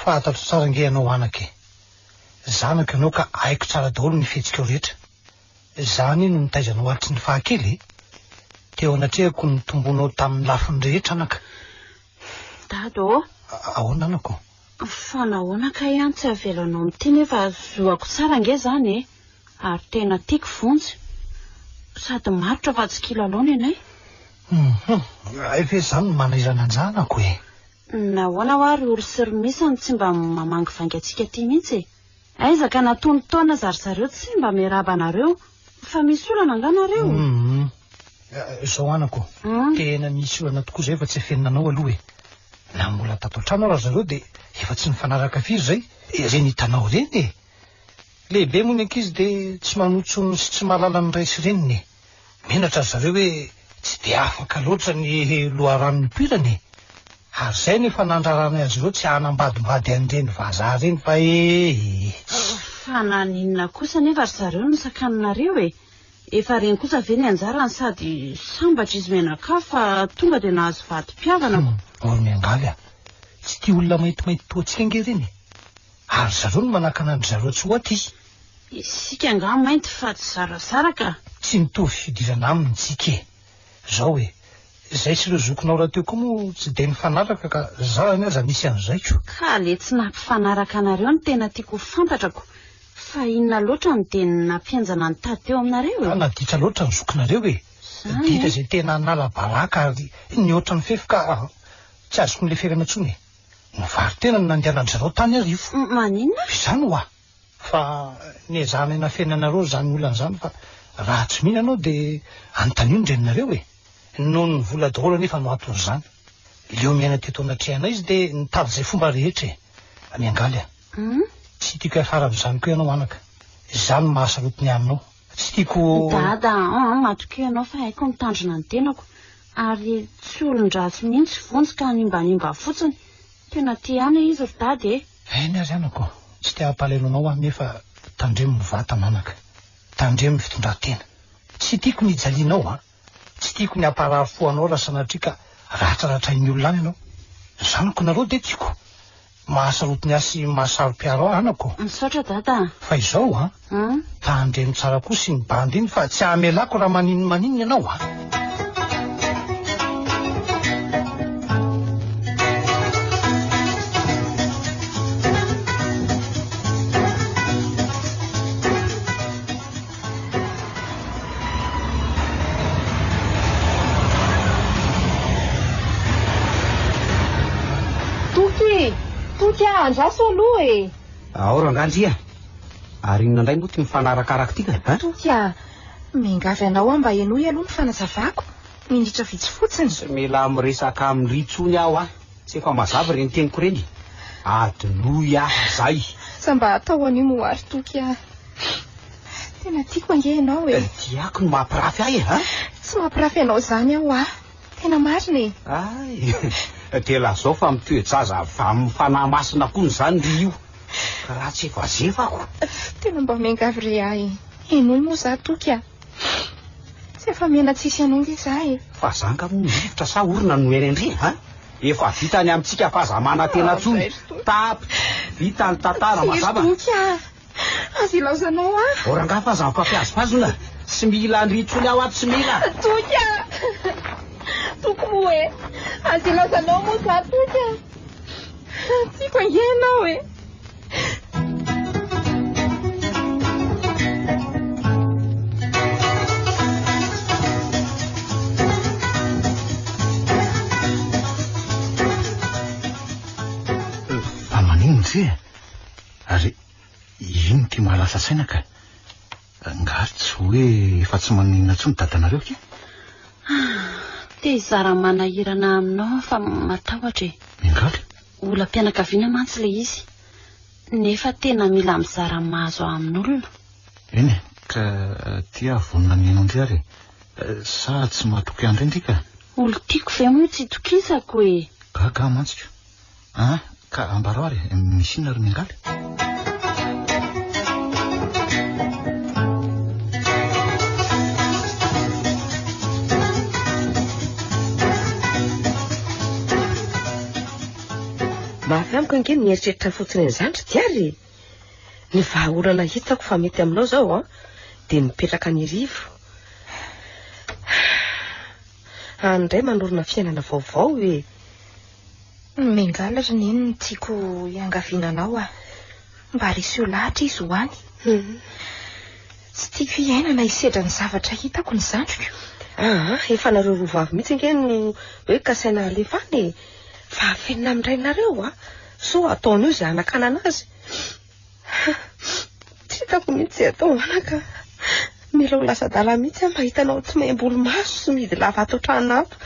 Speaker 7: Fahatatro tsara ange ianao anaka e! Zanako ianao ka haiko tsara daholo ny fihetsikao rehetra. Izaho anie no nitaiza anao hatry ny fahakely e! Teo anatrehako ny tombonao tamin'ny lafiny rehetra anaka.
Speaker 1: Dada ô! Ahoana
Speaker 7: anako? Fa nahoana
Speaker 1: kay an tsy avelanao mitia nefa zoako tsara ange izany e! Ary tena tiako vonjy. Sady marotra fa tsy kilalao ny anay. Humm!
Speaker 7: Hay ve izany no manahirana an'izany anako e! Nahoana hoa
Speaker 1: ry ory sy ry misa no tsy mba mamangivainga antsika aty mihitsy e? Aiza ka na tony taona aza ry zareo tsy mba miarahaba anareo. Fa misy olana angaha nareo?
Speaker 7: Izao anako, tena misy olana tokoa izay fa tsy afenina anao aloha e! Na mbola tato an-trano ary ry zareo dia efa tsy nifanaraka firy izay, ireny hitanao ireny e! Lehibe moa ny ankizy dia tsy manontsonona sy tsy mahalala ny ray sy reniny e! Menatra ry zareo hoe tsy dia afaka loatra ny loharano nipoirany e! Ary izay no efa nandraranay azy ireo tsy hanambadimbady an'ireny vazaha ireny fa ee!
Speaker 1: Fa naninona kosa anefa ry zareo no sakaninareo e! Efa reny kosa ve ny anjarany sady sambatra izy menakà fa tonga dia nahazo vadim-piavana ko! Mbola miangaly
Speaker 7: a! Tsy tia olona maintimainty toa antsika ange ireny e! Ary ry zareo no manakana an-dry zareo tsy ho aty! Isika
Speaker 1: angaha mainty fa tsy zarazara ka. Tsy mitovy
Speaker 7: fidirana aminy tsika e! Zao e! Zay sy ireo zokinao rahateo koa moa tsy dia nifanaraka ka za zany aza misy an'izay ko! Ka le tsy
Speaker 1: nampifanaraka anareo no tena tiako ho fantatrako fa inona loatra no dia nampihenjana ny tady teo aminareo e? Naditra loatra ny zokinareo
Speaker 7: e! Zany e! Ditra izay tena hanala baraka ary ny ohatran'ny fefy ka tsy azoko ny leferana intsony e! Ny varin-tena no nandehanandry zareo tany arivo! Maninona? Izany
Speaker 1: hoa!
Speaker 7: fa niezahana hinafenina anareo izany olana izany fa raha tsy mino ianao dia anontanio ny reninareo e noho ny vola daholo anefa no anton'izany leo miaina teto anatrehanay izy dia nitady izay fomba rehetra e miangaly a hmm? tsy tiako hiafara amin'izany koa ianao anaka izany mahasaroty ny aminao tsy tiako dada ah, ah,
Speaker 1: matokeo ianao fa haiko mitandrina ny tenako ary tsy olon-dratsy mihitsy vonjy ka hanimbanimba fotsiny tena te ana izy ry dada e Aina ry anako,
Speaker 7: tsy te hampalahelo anao aho nefa tandremo ny vatana anaka, tandremo ny fitondran-tena. Tsy tiako ny hijalianao an! Tsy tiako ny hamparary fo anao raha sanatria ka ratraratrain'ny olona any ianao. Ny zanako nareo dia tiako. Mahasarotiny ahy sy mahasaro-piaro ahy anako. Misaotra dada a!
Speaker 1: Fa izao an!
Speaker 7: Tandremo tsara kosa iny bandy iny fa tsy hamelako raha maninona maninona ianao a.
Speaker 3: Toky e! Toky a! Andraso aloha e! Ao rangahy ndry
Speaker 6: a! Ary inona indray moa ity mifanarakaraka ity kay eh? Tokia,
Speaker 3: miangavy anao aho mba henoy aloha ny fanazavako, minitra vitsy fotsiny. Tsy mila miresaka
Speaker 6: amin'irỳ intsony aho a! Tsy efa mazava ireny teniko ireny e! Adinoy aho izay! Sa mba atao
Speaker 3: anio moa àry Tokia? Tena tiako ange ianao e! Tiako ny mampirafy
Speaker 6: ahy e! Tsy mampirafy
Speaker 3: anao izany aho hoa! Tena marina e! Hay!
Speaker 6: Dia lazao fa mitoe-jaza avy amin'ny Fanahy Masina hono izany ry io, ka raha tsy efa zefako. Tena mba
Speaker 3: miangavy re ahy e! Henoy moa za toky a! Tsy afa-miaina tsisy anao nge za e! Fa za nga moa mivotra
Speaker 6: sa orona no miaina indry a! Efa vita ny amintsika f'aza manantena intsony, tapitra, vita ny tantara, mazava? Tsy ry toky a!
Speaker 3: Aza ilaozanao ahy. Ô rangahy fa aza
Speaker 6: mifampiazipazona. Tsy mila an-dry intsony aho ato, tsy mila. Toky a!
Speaker 3: Toky moa e! Aza ilaozanao moa za Toky a! Tiako ange ianao e!
Speaker 2: Fa maninona ity e? Ary ino ty mahalasa saina ka? Nga tsy hoe efa tsy maninona tsony dadanareo ke?
Speaker 1: Te hizara manahirana aminao aho fa matahotra e. Ingaly?
Speaker 2: Olam-pianakaviana
Speaker 1: mantsy ilay izy. Nefa tena mila mizara mahazo ahy amin'olona. Eny e,
Speaker 2: ka ty aho vonona ny hino an-dry ary e. Sa tsy mahatoky an-dry ndry ka? Olon-tiako ve
Speaker 1: moa tsy itokisako e? Gaga aho mantsy ka.
Speaker 2: Ah, ka ambarao ary, misy inona ry Miangaly?
Speaker 4: Mafy amiko ange ny eritreritra fotsiny an'izany ry diary ny vahaolana hitako fa mety aminao zao an dia mipetraka ny rivo any indray manorina fiainana vaovao e Mengala
Speaker 3: ry neny ny tiako hiangaviana anao ah. Mba reseo lahatra izy ho any. Hmm. Tsy tiako hiaina na hisedra ny zavatra hitako ny zandriko. Ah, ah efa
Speaker 4: nareo roa vavy mihitsy ange no hoe kasaina halefa any e. Fa afenina amin-drainareo ah. So ataon'io izay hanakanana azy. Tsy hitako mihitsy izay atao anaka ka. Mila ho lasa adala mihitsy aho mahita anao tsy maimboly maso sy mihidy lava ato an-trano ato.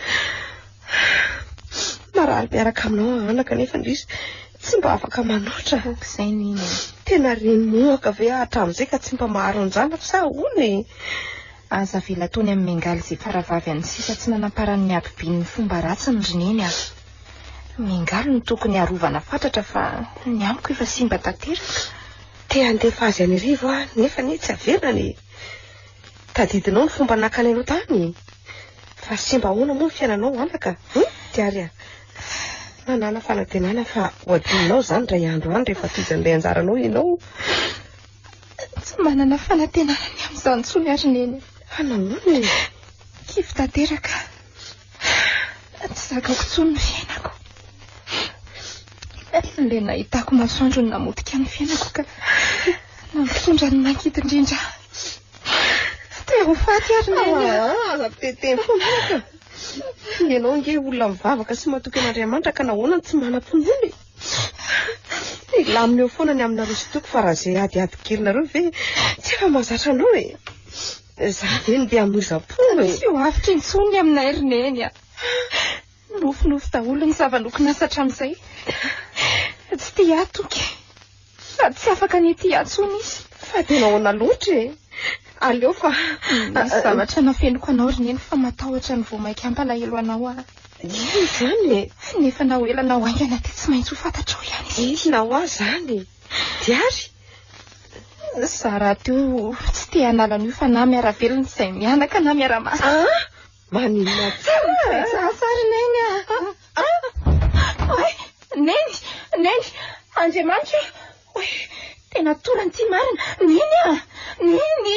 Speaker 4: Marary miaraka aminao aho anaka nefa indrisy tsy mba afaka manoatra. Izay ny iny.
Speaker 3: Tena renomohaka
Speaker 4: ve aho hatramin'izay ka tsy mba maharo ny zanako sa ahoana e? Aza
Speaker 3: avela tony amin'ny mengaly izay faravavy an'ny sisa tsy nanamparan'ny habibian'ny fomba ratsiny ry neny a! Miangaly no tokony harovana fatratra fa ny amiko efa simba tanteraka. Te handefa
Speaker 4: azy any rivo aho nefa anie tsy averina ny tadidinao ny fomba nakany anao tany. Fa simba ahoana moa ny fiainanao anaka? Hum, Tiary ah. Manana fanantenana fa ho adinonao izany iray andro any rehefa tojo an'ilay anjaranao ianao.
Speaker 3: Tsy manana fanantenana ny amin'izany intsony ary neny. Fa nahoana e?
Speaker 4: Kivy
Speaker 3: tanteraka. Tsy zakako intsony ny fiainako. Ilay nahitako masoandro no namotika ny fiainako ka nampitondra ny mankidy indrindra. Te ho faty ary ny aina. Ah, aza mpiteteny
Speaker 4: foana ka. Ianao nge olona mivavaka sy matoky an'Andriamanitra ka nahoana no tsy manam-pinoana e? Hilamina eo foana ny aminareo sy toko fa raha izay adiady kelinareo ve tsy efa mahazatra anao e? Za ve no be amozam-po e? Tsy ho avotra intsony
Speaker 3: ny aminay ry neny a. Nofinofy daholo ny zava-nokinasa hatramin'izay. Tsy tia ahy toky. Sady tsy afaka ny hitia ahy intsony izy. Fa dia nahoana
Speaker 4: loatra e? Aleo fa... Misy zavatra
Speaker 3: nafenoko anao ry neny fa matahotra ny vao mainka hampalahelo anao aho. Inona
Speaker 4: izany e? Nefa na ho
Speaker 3: ela na ho haingana dia tsy maintsy ho fantatrao ihany izy ity. Inona ho ahy izany
Speaker 4: e? Diary?
Speaker 3: Za raha teo tsy te hanala an'io fa na miara-velona izay mianaka na miara-masa. Ah! Maninona
Speaker 4: tsara? Tsara neny
Speaker 3: ah! Oe, neny, neny, Andriamanitra, oe, tena torany ity marina, neny ah, neny.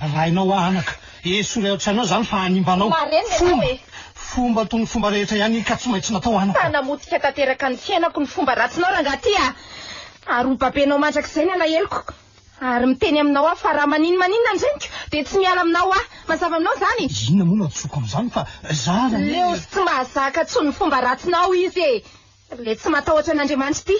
Speaker 7: Rainao aho anaka e, soloy ao an-tsainao izany fa hanimba anao. Fomba! Fomba toy ny fomba rehetra ihany iny ka tsy maintsy natao anaka. Mpanamotika tanteraka
Speaker 3: ny fiainako ny fomba ratsinao rangaha ty a! Ary ho babenao mandrakizay ny alaheloko. Ary miteny aminao aho fa raha maninomaninona ny reniko dia tsy miala aminao aho. Mazava aminao izany? Inona moa no hadisoako
Speaker 7: amin'izany fa izaho ilay. Leo sy tsy
Speaker 3: mahazaka intsony ny fomba ratsinao izy e! Le tsy matahotra an'Andriamanitra ity.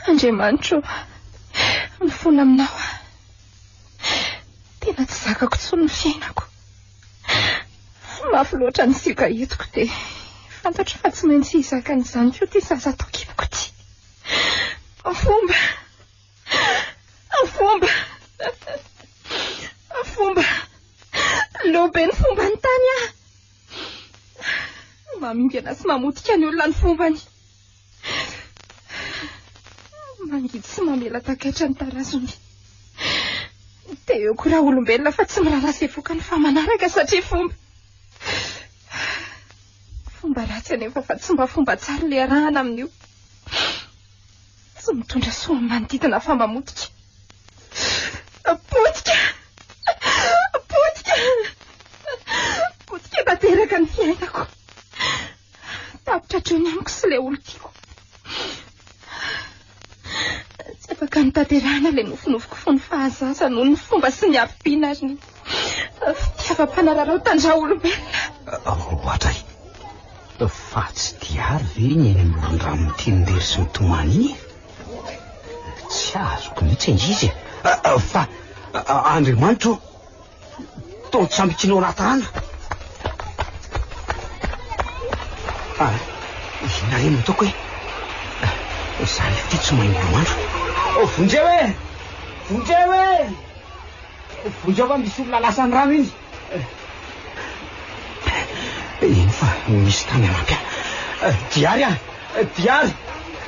Speaker 3: Andriamanitro, mifola aminao aho. Tena tsy zakako intsony ny fiainako. Tsy mafy loatra ny sioka hitako dia fantatro fa tsy maintsy hizaka an'izany koa ity zaza ato an-kiboko ity. Afomba! Afomba! Afomba! Leo be ny fomba ny tany ah! Mamingana sy mamotika ny olona ny fombany. Mangidy sy mamela takaitra ny tarasony. Dia eo koa raha olombelona fa tsy miraharaha izay vokany fa manaraka satria fomba. Fomba ratsy anefa fa tsy mba fomba tsara ilay arahana amin'io. Tsy mitondra soa amin'ny manodidina fa mamotika. Potika! Potika! Potika tanteraka ny fiainako. Tapitra hatrany amiko sy ilay olon-tiako. Tsy afaka nitaterana ilay nofinofiko fony fahazaza noho ny fomba sy ny habibiana ary ny fitiavam-panararao tandraolombelona. Roatray,
Speaker 6: fa tsy diary ve ny eny amoron-drano ity ndery sy mitomany iny? Tsy azoko mihitsy angizy. Fa Andriamanitro Tongotra amby kilo ratana. Ah, inona re no toko e? Ah, za le ty tsy mahay miloandro. Oh, vonjeo e! Vonjeo e! Vonjeo fa misy olona lasan'ny rano iny. Eny fa misy tany anampy. Diary ah, diary.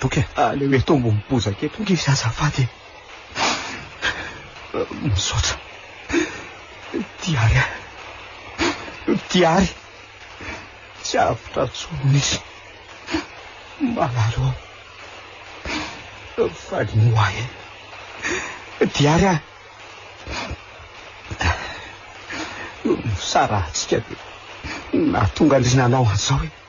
Speaker 6: Toky
Speaker 2: e. Aleo eto ambony
Speaker 6: bozaka eto nge izy azafady e. Misaotra. Diary a. Diary. Tsy avotra tsony nisy. Malalo. Faly ny hoahy e. Diary a. Misara antsika dia nahatonga andrinanao an'izao e.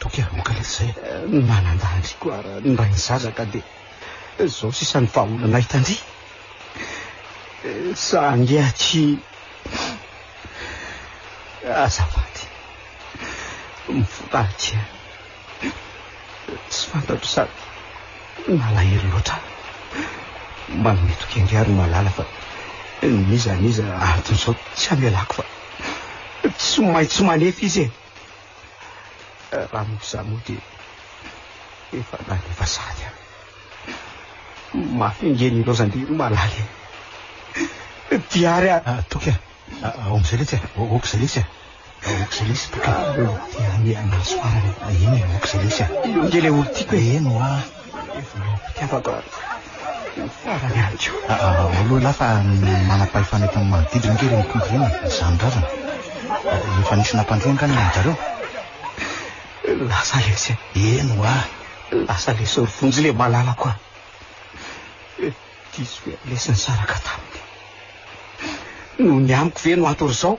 Speaker 6: Toky ary moa ka
Speaker 2: le zay. Manandaha ndry ko
Speaker 6: ara ny ray ny zaza ka de zao sisa ny vahaolana hita ndry. Sa ange aty azafady mivola aty a. Tsy fantatro sady malahelo loatra aho. Manome toky ange ary malala fa n'iza n'iza antony zao tsy amelako fa tsy maintsy manefy izy e. Raha mody za moa dia efa lany efa sady a. Mafy engeny ireo zandiry malaly e. Diary a. Ah, toky a.
Speaker 2: Ah, ao amizay letsy a. Oka zay letsy a. Ah, oka zay letsy toky a. Dia anianaso
Speaker 6: farany. Eny, oka zay letsy
Speaker 2: a. Io nge le olo tiako
Speaker 6: e. Eny hoa.
Speaker 2: Mampiavaka
Speaker 6: ny farany ihany koa. Ao aloha ialahy fa
Speaker 2: manam-pahefana eto amin'ny manodidina ange ireny mpitondra ireny e, izaho nirarana. Efa nisy nampandre angamba ny anjareo.
Speaker 6: Lasa lesy e. Eny hoa.
Speaker 2: Lasa
Speaker 6: lesy ry Vonjy le malalako a. Diso ve ny lesy nisaraka taminy? Noho ny amiko ve no ato ry zao?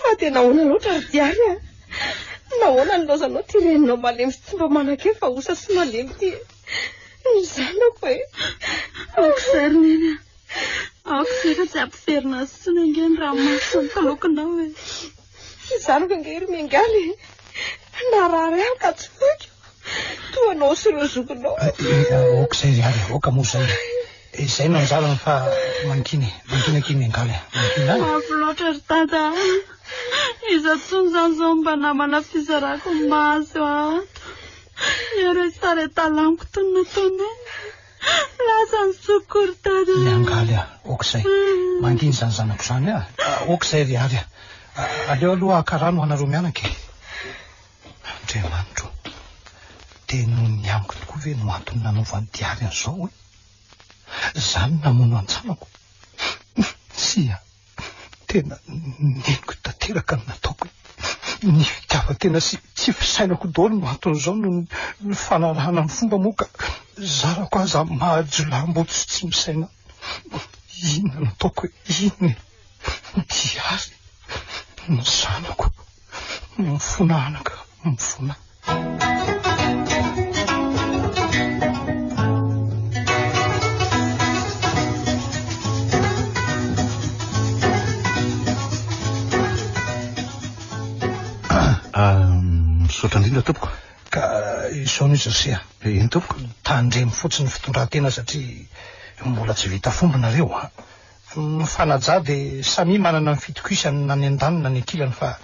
Speaker 4: Fa dia nahoana loatra ry Diary a? Nahoana ny laozanao ity reninao malemy sy tsy mba manan-kery fa osa sy malemy ity e? Ny zanako e! Aoka izay
Speaker 1: ry neny a! Aoka izay fa tsy hampiverina azy intsony ange ny ranomasoko sy ny kalokinao e! Ny zanako
Speaker 4: ange ry Miangaly e! Narary ahy ka tsy foiko! Toa anao sy ireo zokinao. Aoka izay ry
Speaker 7: Ady, aoka moa izay. Izay no anjarany fa mankiny, mankiny aky ny angaly. Mankiny any. Mafy loatra
Speaker 1: ry Tata. Iza tsony izany izao mba namana fizarako ny mahazo ato. Miaro etsy tara etsy talaniko tony nataonay. Lasa ny zokiko ry Tata. Ny angaly, aoka
Speaker 7: izay. Mankiny izany zanako izany. Aoka izay ry Ady. Aleo aloha haka rano hanareo mianaka e. Andriamanitro ô, dia noho ny amiko tokoa ve no antony nanaovan'i Diary an'izao hoe, izaho no namono an-tsanako? Tsia, tena neniko tanteraka ny nataoko e! Ny fitiavan-tena sy tsy fisainako daholo no anton'izao noho ny fanarahana ny fomba moa ka zarako aza mahajolaham-boto sy tsy misaina. Inona no ataoko e? Inona e? Diary, ny zanako. Mifona anaka, mifona.
Speaker 2: Misaotra indrindra tompoko. Ka
Speaker 7: izao ny José. Eny tompoko.
Speaker 2: Tandremo fotsiny ny
Speaker 7: fitondran-tena satria mbola tsy vita fomba nareo. Ny fanaja dia samia manana ny fitokisany na ny andaniny na ny ankilany fa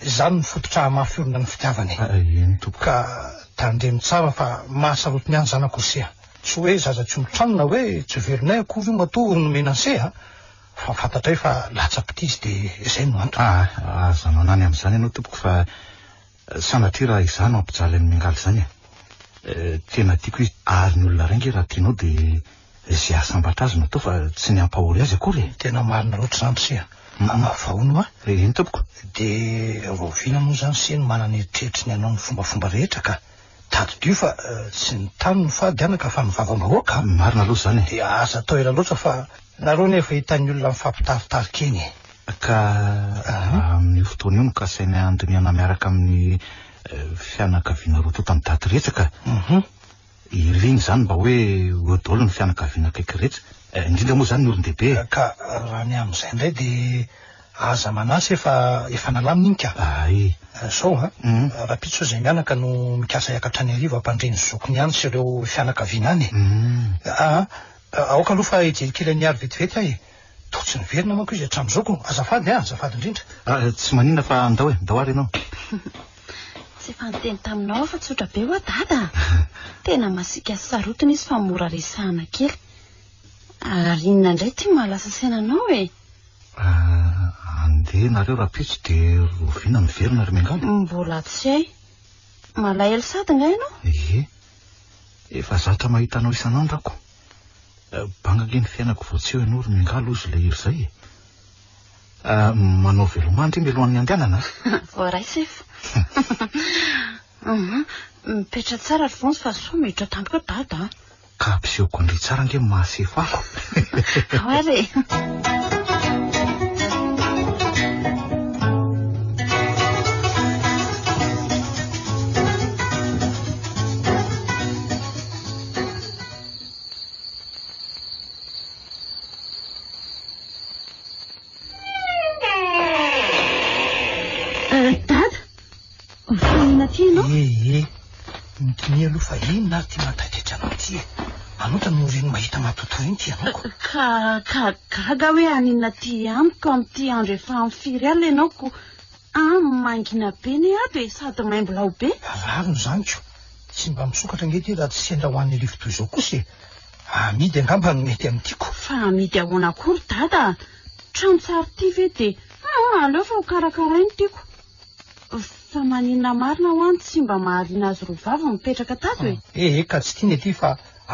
Speaker 7: izany no fototra hamafirona ny fitiavana e! Ah eny tompoko. Ka tandremo tsara fa mahasarotiny
Speaker 2: ihany
Speaker 7: zany akory se a! Tsy hoe zaza tsy olon-trano na hoe tsy velonay akory io matoa ho nomena ny se a! Fa fantatray fa latsa-pitia izy dia izay no antony. Ah aza manany
Speaker 5: amin'izany ianao tompoko fa. Sanatria raha izaho no hampijaly an'i Miangaly izany e! Tena tiako izy. Ary ny olona iray ange raha tianao dia izay hahasambatra azy no atao fa tsy ny hampahory azy akory e! Tena marina loatra izany ry
Speaker 7: se a! Manavao no a! Eny tompoko!
Speaker 5: Dia
Speaker 7: rahoviana moa izany se no manana eritreritry ny hanao ny fombafomba rehetra ka! Tadidio fa tsy ny tany no fady anaka fa ny vavambahoaka a! Marina aloha izany e! Dia
Speaker 5: aza atao ela loatra
Speaker 7: fa nareo anie efa hitan'ny olona mifampitaritarika eny e! Ka
Speaker 5: amin'io fotoana io no kasainay handinihana miaraka amin'ny fianakaviana roa tontan'i Daty rehetra ka! Irina izany mba hoe ho daholo ny fianakaviana akaiky rehetra, indrindra moa izany ny olon-dehibe e! Ka raha ny
Speaker 7: amin'izay indray dia Aza manasa efa efa nalamina iny ka. Ae. Zao a, rapitso izay mianaka no mikasa hiakatra any arivo hampandre ny zokiny any sy ireo fianakaviana any e. Aa aoka aloha fa hijery kely an'i Miary vetivety aho e. Toa tsy niverina manko izy hatramin'izao ko. Azafady a, azafady indrindra. Aa tsy maninona fa andao
Speaker 5: e, andao ary ianao.
Speaker 1: Tsy efa niteny taminao aho fa tsotra be ho'a Dada a. Tena masiaka sy sarotiny izy fa mora resahana kely. Ary inona indray ity maha lasa saina anao e?
Speaker 5: Andeha nareo rapitso de rovina miverina ry mengana. Mbola tsy hay.
Speaker 1: Malahelo sady nga ianao? Ie. Efa
Speaker 5: zatra mahita anao isan'andro ako. Banga ange ny fiainako vao tsy eo ianao ry mengana lozy leiry zay e. Manao veloma ndry mialohan'ny handehanana a. Voaray sefo.
Speaker 1: Mipetra tsara ry vonjy fa soa miditra tampoka dada a. Ka ampisehoako
Speaker 5: indray tsara ange ny maha sefako. Ahoana
Speaker 7: e? Mifanina ty no? Eh eh. Mikinia aloha fa inona ary ty mantaitaitra anao ty e. Anota no reny mahita matotoa iny ty ianao ko. Ka ka
Speaker 1: gaga hoe aninona ty amiko amin'ity andro efa amin'ny firy alina ianao ko. Ah mangina be ne ato e sady maimbo lao be. Rariny izany ko.
Speaker 7: Tsy mba misokatra ange ty raha tsy sendra ho an'ny arivo toy izao kosa e. Amidy angamba no mety amin'ity ko. Fa amidy ahoana
Speaker 1: koa ry dada a. Trano tsara ty ve dia ah aleo fa ho karakaraina ity ko. Fa maninona marina ho'a no tsy mba mahaliana azy roa vavy ny mipetraka tato e? Eh eh ka tsy tiany
Speaker 7: aty fa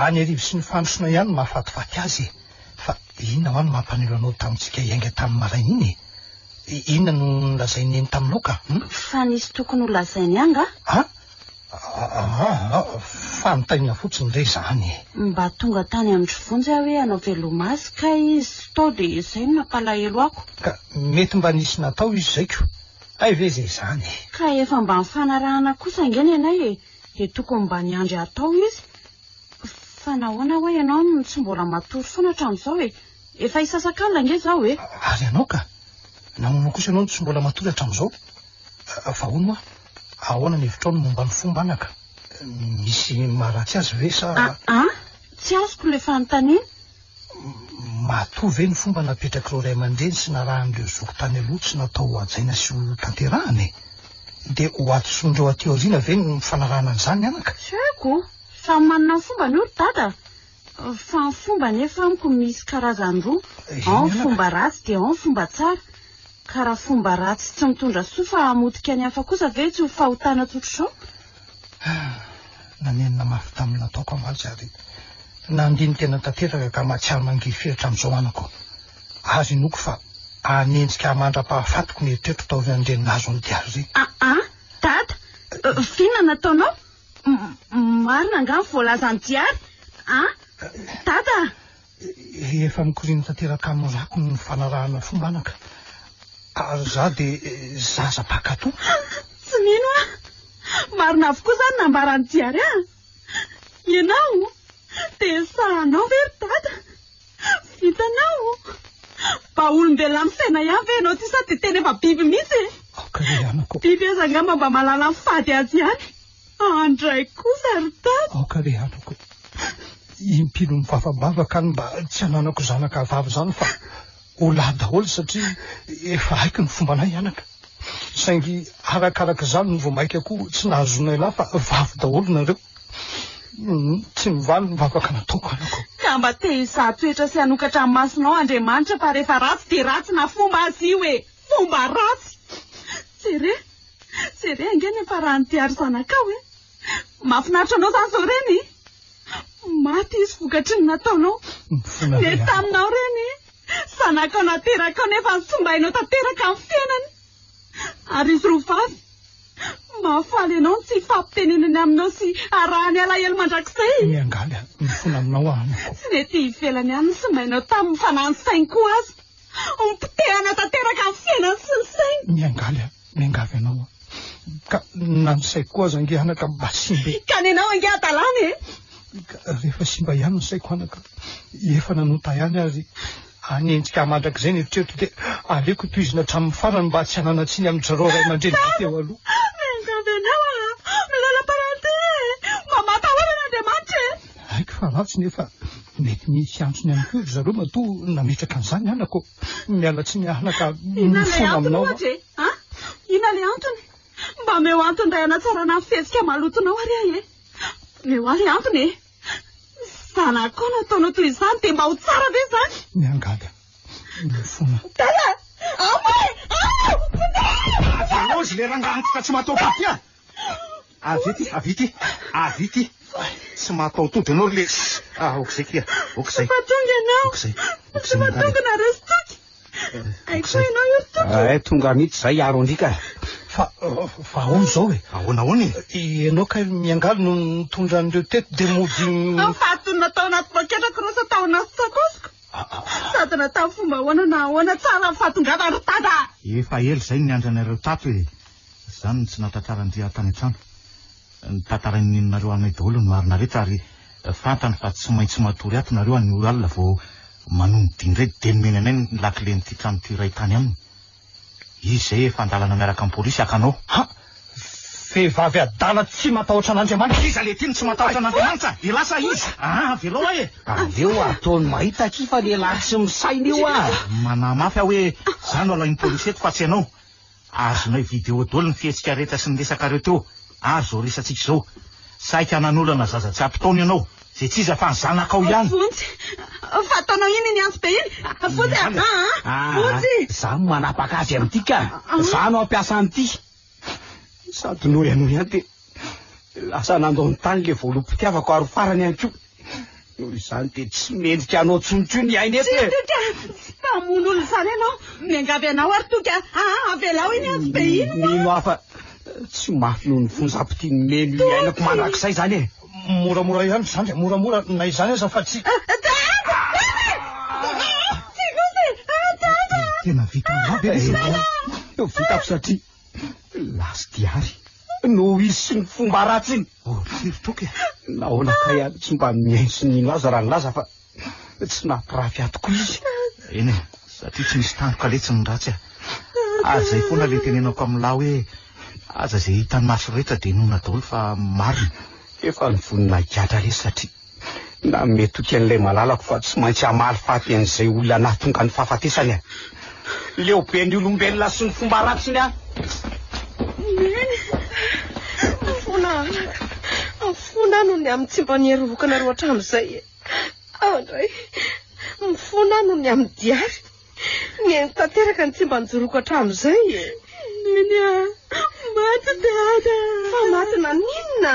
Speaker 7: any arivo sy ny fandrosona ihany no mahafatifaty azy e! Fa inona ho'a no mampanelo anao tamintsika hiainga tamin'ny maraina iny e? Inona no nolazain'i Neny taminao ka? Hum? Fa nisy tokony
Speaker 1: holazainy angaha? Ah? Aa,
Speaker 7: fanontaniana fotsiny re izany e! Mba tonga tany
Speaker 1: Andry Vonjy aho hoe hanao velomasy kay izy tao dia izay no nampalahelo ako. Ka mety mba
Speaker 7: nisy natao izy izay ko! Hay ve izay izany e! Ka efa mba
Speaker 1: nifanarahana kosa ange ny anay e! Dia tokony mba niandry hatao izy. Fa nahoana ho'a ianao no tsy mbola matory foana hatramin'izao e! Efa hisasakalina ange izao e! Ary ianao ka?
Speaker 7: Nahoana kosa ianao no tsy mbola matory hatramin'izao? Fa hono ho'a! Ahoana ny hevitrao ny momba ny fomba anaka? Misy maharatsy azy ve sa? Aa! Tsy azoko
Speaker 1: ilay fanontaniana.
Speaker 7: Matoa ve ny fomba napetrak'ireo ray aman-dreny sy narahan'ireo zoky tany aloha tsy natao hohajaina sy hotanterahana e? Dia hohadisoan'ireo aty aoriana ve ny fanarahana an'izany anaka? Tsy haiko,
Speaker 1: samy manana ny fombany hoy ry dada. Fa ny fomba anefa amiko misy karazany roa, ao ny fomba ratsy dia ao ny fomba tsara. Ka raha fomba ratsy tsy mitondra soa fa hamotika ny hafa kosa ve tsy ho fahotana tsotr'izao? Ah!
Speaker 7: Nanenina mafy tamin'ny nataoko amantsy ary nandini-tena tanteraka ka mahatsiaro mangirify hatramin'izao anako. Azy inoako fa hanenjika ahy mandra-pahafatiko ny eritreritro taorian'ireny nahazo an'i Diary ireny. Ah-ah! Dada!
Speaker 1: Vinona nataonao? Marina angaha ny voalazan'i Diary an! Dada a!
Speaker 7: Efa mikoriana tanteraka amin'ny rako ny fanarahana fomba anaka. Ary izaho dia zaza mpankatò. Tsy mino
Speaker 1: aho! Marina avokoa izany nambaran'i Diary an! Ianao dia sahanao ve ry Dada? Hitanao? Mba olombelona misaina ihany ve ianao ty sa dia tena efa biby mihitsy e? Aoka re amiko. Biby aza angamba mba mahalala ny fady azy ihany. Andray kosa ry Tato. Aoka re amiko.
Speaker 7: Impino mivavambavaka ny mba tsy hananako zanaka vavy izany fa ho lahy daholo satria efa haiko ny fombanay anaka. Saingy arakarak'izany vao mainka koa tsy nahazoanay lahy fa vavy daholo nareo. Tsy mivaly ny vavaka nataoko anako. Ka mba te hizaha
Speaker 1: toetra sy hanokatra ny masonao Andriamanitra fa rehefa ratsy dia ratsy na fomba aza io e! Fomba ratsy! Jere, jere ange ny hafaran'ny diary zanakao e! Mahafinaritra anao izany izao reny e! Maty izy vokatry ny nataonao. Nety taminao reny e! Zanakao naterakao nefa nitsimbainao tanteraka ny fiainany. Ary ry Rovavy, mahafaly anao ny tsy hifampitenenany aminao sy harahany alahelo mandrakizay. Miangaly aho, mifona
Speaker 7: aminao aho amiko. Tsy nety ivelany
Speaker 1: any ny somainao taminy fa na ny sainy koa aza. Ompotehanao tanteraka ny fiainany sy ny sainy. Miangaly aho, miangavy
Speaker 7: anao aho. Ka na ny saiko koa aza ange anaka mba simba e. Ka nenao ange
Speaker 1: hadalana e. Ka rehefa
Speaker 7: simba ihany ny saiko anaka, efa nanota ihany aho ry. Hanenjika ahy mandrakizay ny eritreritro dia aleoko tohizina hatramin'ny farany mba tsy hanana tsiny amin'i Jareo ray aman-dreny be teo aloha. Miangavy anao
Speaker 1: aho, milola parenté e! Mba mampahorina Andriamanitra e! Haiko fa ratsy nefa
Speaker 7: mety misy antony ihany koa ry zareo matoa nametraka an'izany anako. Miala tsiny ahana ka mifono aminao aho. Inona ilay antony ohatra e?
Speaker 1: Inona ilay antony? Mba omeo antony iray hanatsarana ny fihetsika malotonao ary ahy e! Omeo ahy ilay antony e! Zanako koa nataonao toy izany dia mba ho tsara ve izany? Miangavy
Speaker 7: aho. Mifoana. Dada!
Speaker 1: Amo e!
Speaker 5: Amo! Azy le rangahy antitra tsy mataoko ity ah! Avy ity, avy ity, avy ity. Tsy mataho-tody ianao ry lesy. Ah, aok'izay kia, aok'izay. Tsy mahatonga ianao. Aok'izay, aok'izay
Speaker 1: Tsy mahatonga nareo sy toky. Ay koa ianao io tompo. Ay tonga mihitsy zay hiaro
Speaker 6: andrika. Fa
Speaker 7: fa ahoana izao e? Ahoana ahoana e? Ianao
Speaker 5: kay
Speaker 7: miangaly no nitondra an'ireo teto dia mody Aho fahatonina tao
Speaker 1: anaty poketra cross tao anaty sakosiko. Ah, ah, ah. Sady natao fomba ahoana na ahoana tsara ny fahatongavany ry tata. Efa ela izay niandry
Speaker 5: anareo tato e. Izany no tsy nahatratraran'i Ria tany an-trano. Ny tantarain'i Neny nareo aminay daholo ny marina rehetra ary fantany fa tsy maintsy matory ato nareo any ora alina vao manony dia indray dia nomeny anay ny lakilen'ity trano ity iray tany aminy izy izay efa andalana miaraka amin'ny polisy haka anao Ha!
Speaker 7: Vehivavy adala tsy matahotra an'Andriamanitra. Iza le ty no tsy matahotra
Speaker 5: an'Andriamanitra? Elah sa iza? Aa velao ahy e! Aleo ataony
Speaker 6: mahita akia fa lehilahy tsy misaina io aa! Manahy mafy aho hoe
Speaker 5: za no alain'ny polisy eto fa tsy ianao. Azonay vidéo dol ny fihetsika rehetra sy ny resakareo teo ary zao resatsika izao. Saika nanolana zaza tsy ampy taona ianao, zay tsy iza fa ny zanakao ihany. Vonjy,
Speaker 1: fa ataonao iny iny antsy be iny. Vonjy a! Aa! Vonjy! Za no manapaka
Speaker 6: azy amin'ity ka! Za no hampiasa an'ity! Sady noho ianao ihany dia lasa nandao ny tany le voalobompitiavako ary ho farany ihany koa. Noho izany dia tsy mendrika anao intsony koa ny aina eto e! Tsia, tsia, tsia! Tsy mpamono
Speaker 1: olona izany ianao. Miangavy anao ary toky a! a! Avelao iny antsy be iny hoa! Mino aho fa
Speaker 6: tsy mafy noho ny fonjam-pitia nomeny ny ainako mandrakizay izany e! Moramora ihany
Speaker 7: izany dia moramora na izany aza fa tsy. Tena
Speaker 6: vitako satria. Lasty ary no hisy ny fomba ratsy iny. Oh, firy toky e.
Speaker 5: Nahoana ka
Speaker 6: ihany tsy mba mihaino sy nino azy raha nilaza fa tsy nampirafy ahy tokoa izy. Eny e,
Speaker 5: satria tsy misy tandroka letsy ny ratsy e. Ary izay foana ilay tenenako amin'lah hoe aza izay hitan'ny maso rehetra dia inoana daholo fa marina. Efa ny
Speaker 6: voninahiko higadra lesy satria Na metoky an'ilay malalako fa tsy maintsy hamaly faty an'izay olona nahatonga ny fahafatesany aho. Leo be ny olombelona sy ny fomba ratsiny aho. Neny, afona
Speaker 4: anaka. Afona noho ny amin'ny tsy mba niherovokanareo hatramin'izay. E. Aho indray, mifona noho ny amin'ny diary. Neny tanteraka ny tsy mba nijoroko hatramin'izay. E. Neny,
Speaker 1: maty dada. Fa maty
Speaker 4: naninona?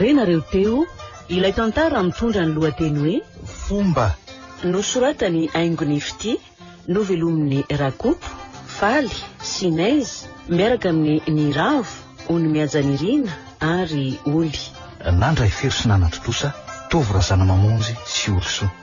Speaker 8: Renareo teo ilay tantara mitondra ny lohateny hoe Fomba.
Speaker 5: Nosoratany
Speaker 8: haingony fitia, novelomin'i Rakoto, Faly, Sinez, miaraka amin'i Niravo, Onimiajanirina ary
Speaker 5: Oly.
Speaker 8: Nandray
Speaker 5: fery sy nanatontosa, Tovo Razanamamonjy sy Olisoa.